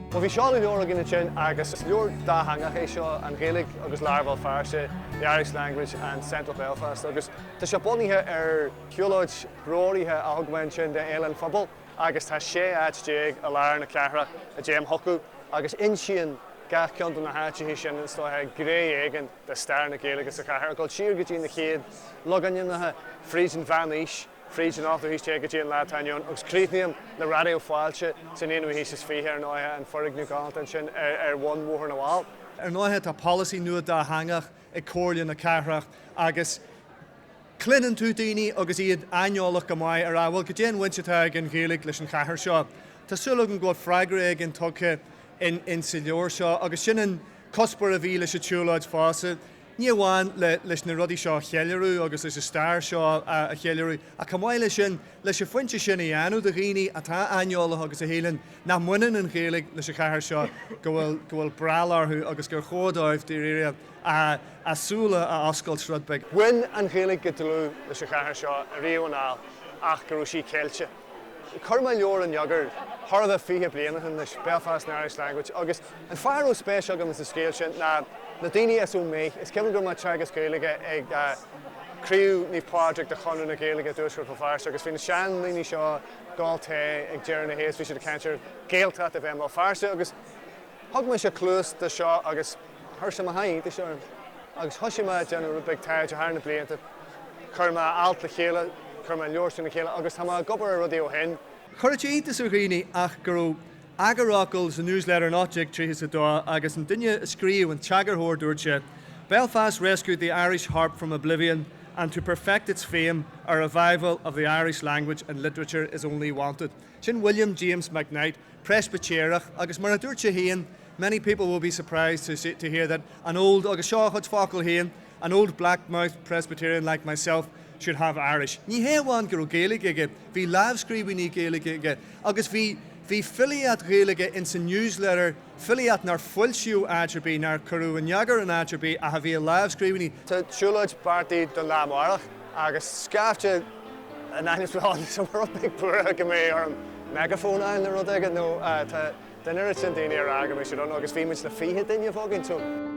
Bhuel, bhí seoladh leabhair againn ansin agus is leabhar dátheangach é seo, An Ghaeilge agus Lár Bhéal Feirste, The Irish Language and Central Belfast, agus tá sé bunaithe ar shiúlóid threoraithe a thug mé ansin do Fhéile an Phobail agus tá 16 áit i lár na cathrach a dtéim chucu, agus insíonn gach ceann de na háiteacha sin, is dócha, gné éigin de stair na Gaeilge sa chathair, ag dul siar go dtí na chéad logainmneacha fríd an mheánaois. fríd an ochtú haois déag go dtí an lá atá inniu ann, agus críochnaíonn le Raidió Fáilte san aonú haois is fiche, ar ndóighe, an foirgneamh galánta ansin ar bhun Bhóthar na bhFál. Ar ndóighe, tá polasaí nua dátheangach ag Comhairle na Cathrach agus cluineann tú daoine agus iad aineolach go maith ar, á, bhuel, goidé an bhaint atá ag an Ghaeilge leis an chathair seo. Tá súil agam go bhfuil freagra éigin tugtha in sa leabhar seo, agus sin an cuspóir a bhí leis an tsiúlóid fosta, Ní amháin leis na rudaí seo a cheiliúradh agus leis an stair seo a cheiliúradh, ach chomh maith leis sin, leis an phointe sin a dhéanamh do dhaoine atá aineolach agus a shíleann nach mbaineann an Ghaeilge leis an chathair seo go bhfuil breall orthu agus gur chóir dóibh dáiríre a súile a oscailt rud beag. Bhain an Ghaeilge go dlúth leis an chathair seo riamh anall ach go raibh sí ceilte. Chuir mé leabhar in eagar thart fá fiche bliain ó shin leis, Belfast and the Irish Language, agus an fáth a raibh spéis agam sa scéal sin ná na daoine as Ó Méith. Is cionn go raibh mé ag teagasc Gaeilge ag craobh Naomh Pádraig de Chonradh na Gaeilge i dTuaisceart Bhéal Feirste agus bhí na seandaoine seo, ag ól tae, ag deireadh na hoíche is bhí siad ag caint ar Ghaeltacht a bheith i mBéal Feirste agus. Thug mise cluas do seo agus chuir sé mo sháith iontais orm. Agus thoisigh mé a déanamh rud beag taighde thar na blianta. Chuir mé alt le chéile, chuir mé leabhar le chéile agus tá mé ag obair ar rudaí ó shin. Chuir sé iontas ar dhaoine go raibh eagarfhocal sa News Letter in 1832 agus an duine a scríobh, an t-eagarthóir, dúirt sé, Belfast rescued the Irish harp from oblivion and to perfect its fame a revival of the Irish language and literature is only wanted. Sin Uilliam James McKnight, Preispitéireach, agus mar a dúirt sé féin, many people will be surprised to hear that an old, agus seo a chuid focal féin, an old black-mouthed Presbyterian like myself should have Irish. Ní hé amháin go raibh Gaeilge aige, bhí lámhscríbhinní Gaeilge aige, agus bhí filíocht Ghaeilge in san News Letter, filíocht nár foilsíodh áit ar bith, nár cuireadh in eagar in áit ar bith ach a bhí i lámhscríbhinní. Tá siúlóid beartaithe don lá amárach agus scaifte in ainm is a bheith ann is, tá mé rud beag buartha go mbeidh orm meigeafón a fháil nó rud éigin nó tá deichniúr is deichniúr daoine ag rá go mbeidh siad ann agus bhí muid ag dúil le 20 duine.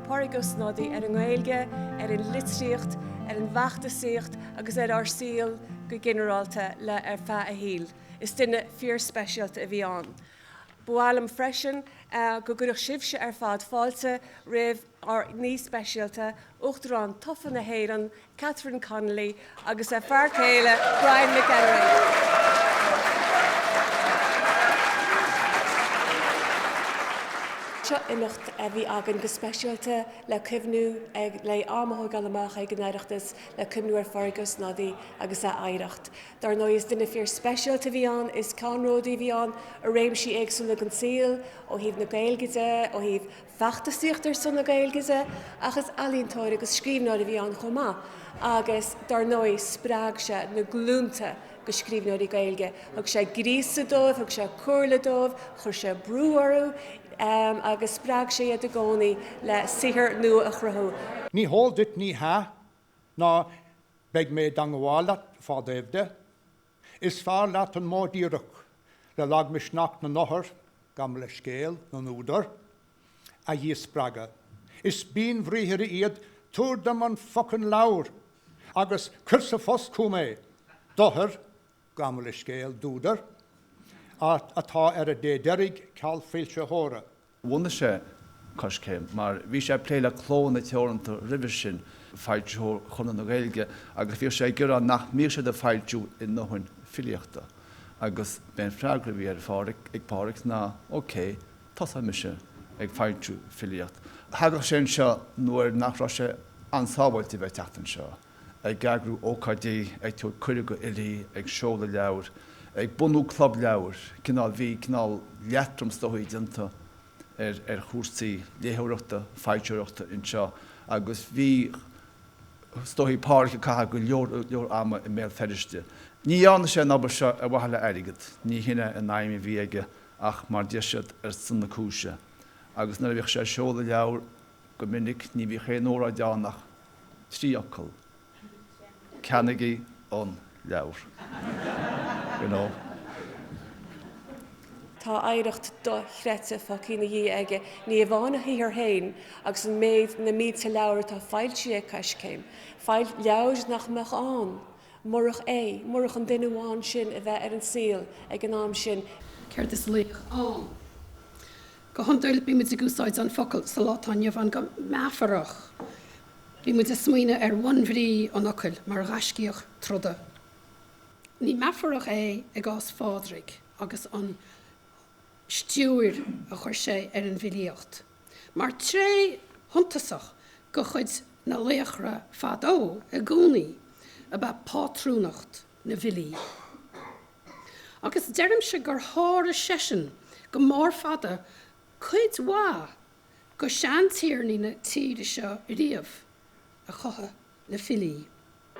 Pádraig Ó Snodaigh ar an nGaeilge, ar an litríocht, ar an bhfeachtasaíocht agus ar ár saol go ginearálta le ar feadh a shaoil. Is duine fíorspeisialta a bhí ann. Ba mhaith liom freisin go gcuirfeadh sibhse ar fad fáilte roimh ár n-aoi speisialta, Uachtarán tofa na hÉireann, Catherine Connolly agus a fear céile Brian McElwain. Seo imeacht a bhí againn go speisialta le cuimhniú, le am a thógáil amach ag an Oireachtas le cuimhniú ar Phádraig Ó Snodaigh agus a oidhreacht. Dár ndóigh is duine fíor speisialta a bhí ann, is ceannródaí a bhí ann i réimsí éagsúla den saol, ó thaobh na Gaeilge de, ó thaobh Feachtasaíocht ar son na Gaeilge de, ach is ealaíontóir agus scríbhneoir a bhí ann chomh maith agus dár ndóigh spreag sé na glúnta de scríbhneoirí Gaeilge. Thug sé gríosadh dóibh, thug sé comhairle dóibh, chuir sé brú orthu agus spreag sé iad i gcónaí le saothar nua a chruthú. Ní háil duit, ní hea, ná beidh mé dod ghabháil i bhfad fá dtaobh de, Is fearr leat an modh díreach, le lagmhisneach na n-othar, gabh mo leithscéal, na n-údar, a dhíspreagadh. Is buanbhriathra iad 'tabhair dom an focain leabhar' agus 'cuir sa phost chugam é' d'othair, gabh mo leithscéal, d'údair, atá ar a dé deiridh ceal foilsitheora. bhunaigh sé Coiscéim mar bhí sé ag plé le Clódhanna Teoranta roimhe sin, foilsitheoir Chonradh na Gaeilge, agus bhíodh sé ag iarraidh nach mbíodh siad ag foilsiú a ndóthain filíochta. Agus b'é an freagra a bhí ar Phádraic, ag Pádraic, ná OK, tosóidh mise ag foilsiú filíocht. Thagadh sé anseo nuair nach raibh sé an-sábháilte bheith ag teacht anseo. ag eagrú ócáidí, ag tabhairt cuireadh go fhilí, ag seoladh leabhar, ag bunú club leabhar, cineál, bhí cineál leatrom is dóigh déanta ar, ar chúrsaí léitheoireachta, foilsitheoireachta anseo agus bhí, is dóigh, Pádraig ag caitheamh go leor ama i mBéal Feirste. Ní dhearna sé an obair seo ar mhaithe le airgead, ní hin é an aidhm a bhí aige ach mar, deir siad, ar son na cúise agus nuair a bhíodh sé ag seoladh leabhar, Go minic ní bhíodh aon óráid ann ach trí fhocal, Ceannaigí an leabhar! you know. Tá oidhreacht do-chreidte fágtha ina dhiaidh aige, ní amháin a shaothar féin agus an méid, na mílte leabhar atá foilsithe ag Coiscéim, leabhair nach mbeadh ann murach é, murach an duine amháin sin a bheith ar an saol ag an am sin. Céard is laoch ann? Go hionduil, bímid ag úsáid an focal sa lá atá inniu ann go meafarach. Bímid ag smaoineadh ar bhunbhrí an fhocail mar ghaiscíoch troda. Ní meafarach é i gcás Phádraig agus an stiúir a chuir sé ar an bhfilíocht mar tréith shuntasach de chuid an laochra fadó i gcónaí ab ea pátrúnacht na bhfilí. agus deirimse gur sháraigh seisean go mór fada cuid mhaith de sheantiarnaí na tíre seo riamh a chothaigh filí.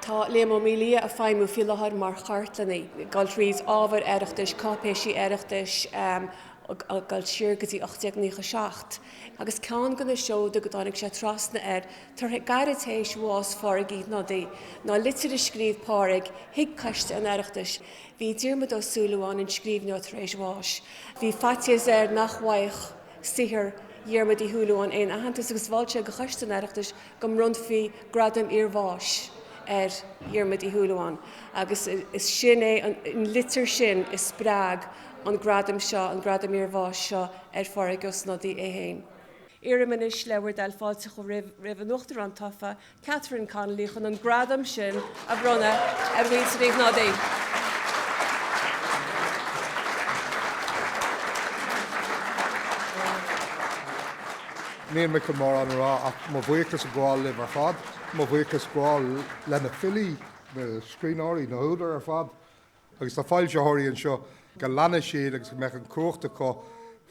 Tá Liam Ó Maolaodha ag feidhmiú faoi láthair mar chartlannaí. Ag gabháil trí ábhar Oireachtais, cáipéisí Oireachtais ag dul siar go dtí 1897 agus ceann de na seoda go dtáinig sé trasna air Tar, gairid tar éis bhás Phádraig Uí Shnodaigh ná litir a scríobh Pádraig chuig Coiste an Oireachtais bhí Diarmaid Ó Súilleabháin an scríbhneoir tar éis bás. Bhí faitíos air nach bhfaigheadh saothar Dhiarmaid Uí Shúilleabháin aon aitheantas agus mhol sé go Choiste an Oireachtais go mbronnfaí gradam iarbháis ar Dhiarmaid Ó Súilleabháin agus is sin é an litir sin a spreag an gradam seo, an gradam iarbháis seo ar Phádraig Ó Snodaigh é féin. Iarraim anois le bhur dtoil fáilte a chur roimh an Uachtarán tofa, Catherine Connolly, chun an gradam sin a bhronnadh ar Mhuintir Uí Shnodaigh. Níl mé chun mórán a rá ach mo bhuíochas a ghabháil libh ar fad, mo bhuíochas a ghabháil leis na filí, na scríbhneoirí, na húdair ar fad agus na foilsitheoirí anseo, go leanfaidh siad agus go mbeadh an cumhacht acu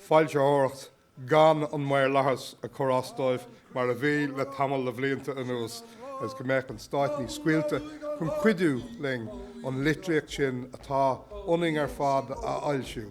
foilsitheoireacht gan an maorlathas a chur as dóibh mar a bhí le tamall de bhlianta anuas, agus go mbeadh an Stát níos scaoilte chun cuidiú linn an litríocht sin atá ionainn ar fad a fhoilsiú.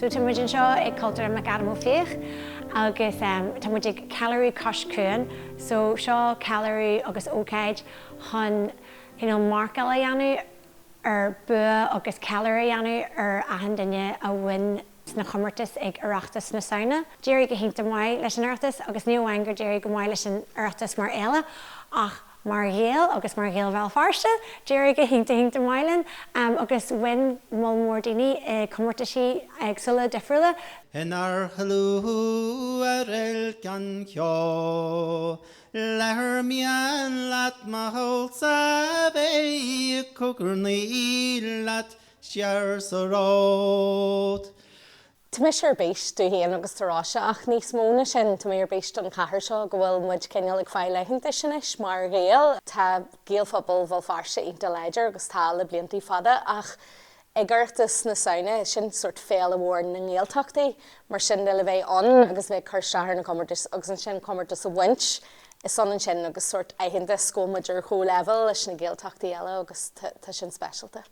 So tá muid anseo ag Cultúrlann McAdam Ó Fiaich agus tá muid ag Ceiliúradh Cois Cuain, so seo ceiliúradh agus ócáid chun you know marcáil a dhéanamh ar bua agus ceiliúradh a dhéanamh ar achan duine a bhain sna comórtais ag Oireachtas na Samhna. D'éirigh go hiontach maith leis an Oireachtas agus ní amháin gur d'éirigh go maith leis an Oireachtas mar fhéile ach mar Ghaeil agus mar Ghaeil Bhéal Feirste, d'éirigh go hiontach iontach maith linn agus bhain moll mór daoine i gcomórtaisí éagsúla difriúla. Inár slua ar Uilc an Cheo leathair mian leat mo shaolsa bheith, cogarnaíl leat siar sa ród. Tá mise ar bís dom féin agus do Róise ach níos mó ná sin, tá mé ar bís don chathair seo go bhfuil muid cineál ag fáil aitheantais anois mar Ghaeil. Tá Gaelphobal Bhéal Feirste iontach láidir agus tá le blianta fada ach ag Oireachtas na Samhna, sin sórt féile mhór na nGaeltachtaí, mar sin de le bheith ann agus a bheith ag cur isteach ar na comórtais agus ansin comórtas a bhaint, is ionann sin agus sórt aitheantas go bhfuil muid ar chomh-leibhéal leis na Gaeltachtaí eile agus tá sin speisialta.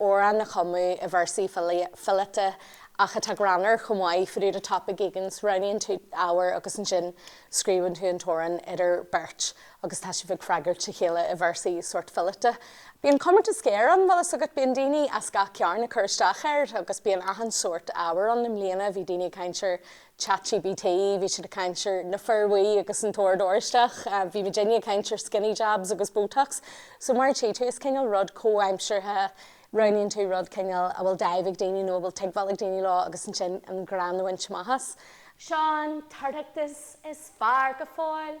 amhrán a chumadh i véarsaí fileata ach atá greannmhar chomh maith, faoi diúité topaic éigint, roghnaíonn tú ábhar agus ansin scríobhann tú an t-amhrán idir bheirt agus tá sibh ag freagairt a chéile i véarsaí sórt fileata. Bíonn comórtas géar ann, bhfuil fhios agat, bíonn daoine as gach cearn ag cur isteach air agus bíonn achan sórt ábhar ann, i mbliana bhí daoine ag caint ar Chat GPT, bhí siad ag caint ar na Fir Bhuí agus an tOrd Oráisteach. Bhí muidinne ag caint ar skinny jabs agus botox. So mar a tchí tú, is cineál rud comhaimseartha, roghnaíonn tú rud cineál a bhfuil dáimh ag daoine nó a bhfuil tuigbheáil ag daoine leo agus ansin an greann a bhaint amach as. Seán, tábhachtach is fearr go fóill.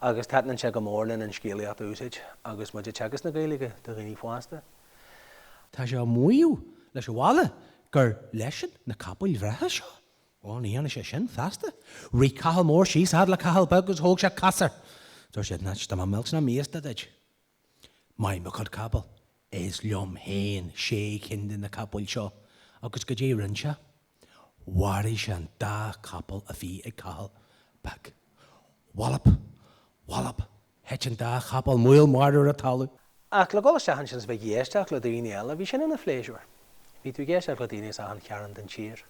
agus taitnionn sé go mór linn an scéalaíocht a úsáid agus muid ag teagasc na Gaeilge do dhaoine fásta. Tá sé ag maíomh leis an bhaile gur leisean na capaill bhreátha seo. Bhal, ní dhéanfaidh sé sin feasta. Rith Cathal Mór síos fhad le Cathal Beag agus thug sé casadh air. Dúirt sé, Nach bhfuil mé millte ná míosta duit? Mo chuid capall, is liom féin sé cinn de na capaill seo, agus goidé rinn sé? Mharaigh sé an dá chapall a bhí ag Cathal Beag. Wallop! Wallop! thuit an dá chapall maol marbh ar an talamh. Ach le dhul isteach ansin is a bheith ag éisteacht le daoine eile, bhí sin ina phléisiúr. Bhí tú ag éisteacht le daoine as achan chearn den tír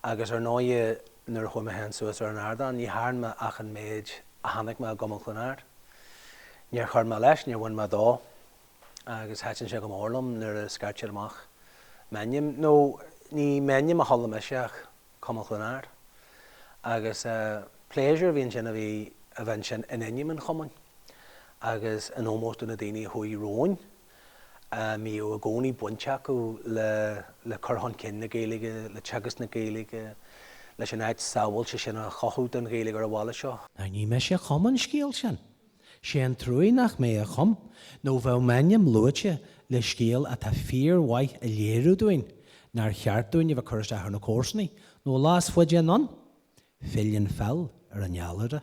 agus ar ndóigh nuair a chuaigh mé féin suas ar an ardán ní thearn mé ach an méid a chonaic mé i gCumann Chluain Ard. Níor chuir mé leis, níor bhain mé dó agus thaitin sé go mór liom nuair a scairteadh amach m'ainm, nó ní m'ainm a chuala mise ach Cumann Chluain Ard. Agus pléisiúr a bhí ann sin a bhí a bheith ansin in ainm an chumainn agus in ómós do na daoine a chuaigh romhainn. a mbíodh i gcónaí baint acu le cur chun cinn na Gaeilge, le teagasc na Gaeilge, leis an áit sábháilte sin a chothú don Ghaeilge ar an bhaile seo. Now ní mise a chum an scéal sin. Sé an truaighe nach mé a chum nó bheadh m'ainm luaite le scéal atá fíor mhaith a léiríonn dúinn nár cheart dúinn a bheith ag cur isteach ar na comharsanaigh nó lá is faide anonn filleann feall ar an fheallaire.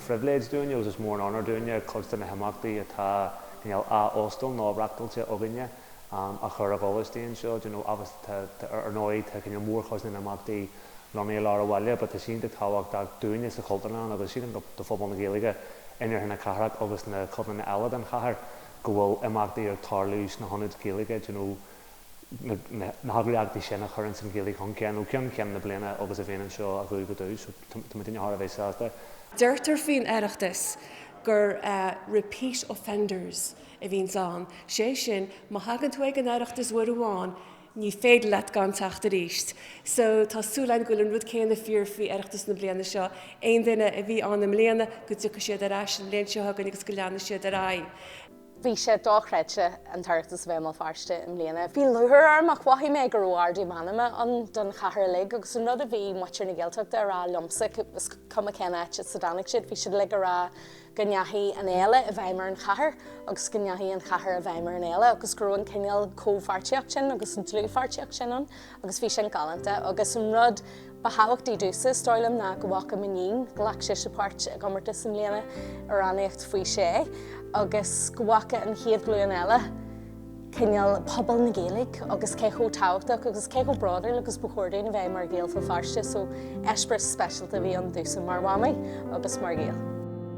phribhléid dúinne agus is mór an onóir dúinne cuid de na himeachtaí atá cineál á óstáil nó reáchtáilte againne a chur i bhfolús daoibh anseo d'you know agus ar ndóigh tá cineál mórchuid na n-imeachtaí lonnaithe i lár an bhaile but tá sé iontach tábhachtach dúinne sa Chultúrlann agus sílim go do phobal na Gaeilge in iarthar na cathrach agus na codanna eile den chathair go bhfuil imeachtaí ag tarlú sna hionaid Ghaeilge d'you know na heagraíochtaí sin a chuireanns an Ghaeilge chun cinn ó cheann ceann na bliana agus a bhíonn anseo ó dhubh go dubh, so tá muidne thar a bheith sásta. Deirtear faoin Oireachtas gur repeat offenders a bhíonns ann, sé sin má thagann tú chuig an Oireachtas uair amháin ní féidir leat gan teacht arís. So tá súil againn go bhfuil an rud céanna fíor faoi Oireachtas na bliana seo, aon duine a bhí ann i mbliana go dtiocfaidh siad ar ais an bhliain seo chugainn agus go leanfaidh siad ar aghaidh. Bhí sé dochreidte an t-Oireachtas a bheith i mBéal Feirste i mbliana. Bhí lúcháir orm ach mhothaigh mé go raibh ardú meanma ann don chathair uilig agus an rud a bhí muintir na Gaeltachta a rá liomsa, is cuma cén áit as a dtáinig siad, bhí siad uilig a rá go ndeachaigh an fhéile i bhfeidhm ar an chathair agus go ndeachaigh an chathair i bhfeidhm ar an fhéile agus go raibh an cineál comhpháirtíocht sin agus an dlúthpháirtíocht sin ann. agus bhí sin galánta agus an rud ba thábhachtaí domhsa is dóigh liom ná go bhfaca m'iníon go ghlac sise páirt i gcomórtas i mbliana i rannaíocht faoi sé agus go bhfaca an chéad ghlúin eile cineál pobal na Gaeilge agus cé chomh tábhachtach agus cé chomh bródúil agus ba chóir dúinn a bheith mar Ghaeil Bhéal Feirste so eispéireas speisialta a bhí ann domhsa mar mhamaí agus mar Ghael.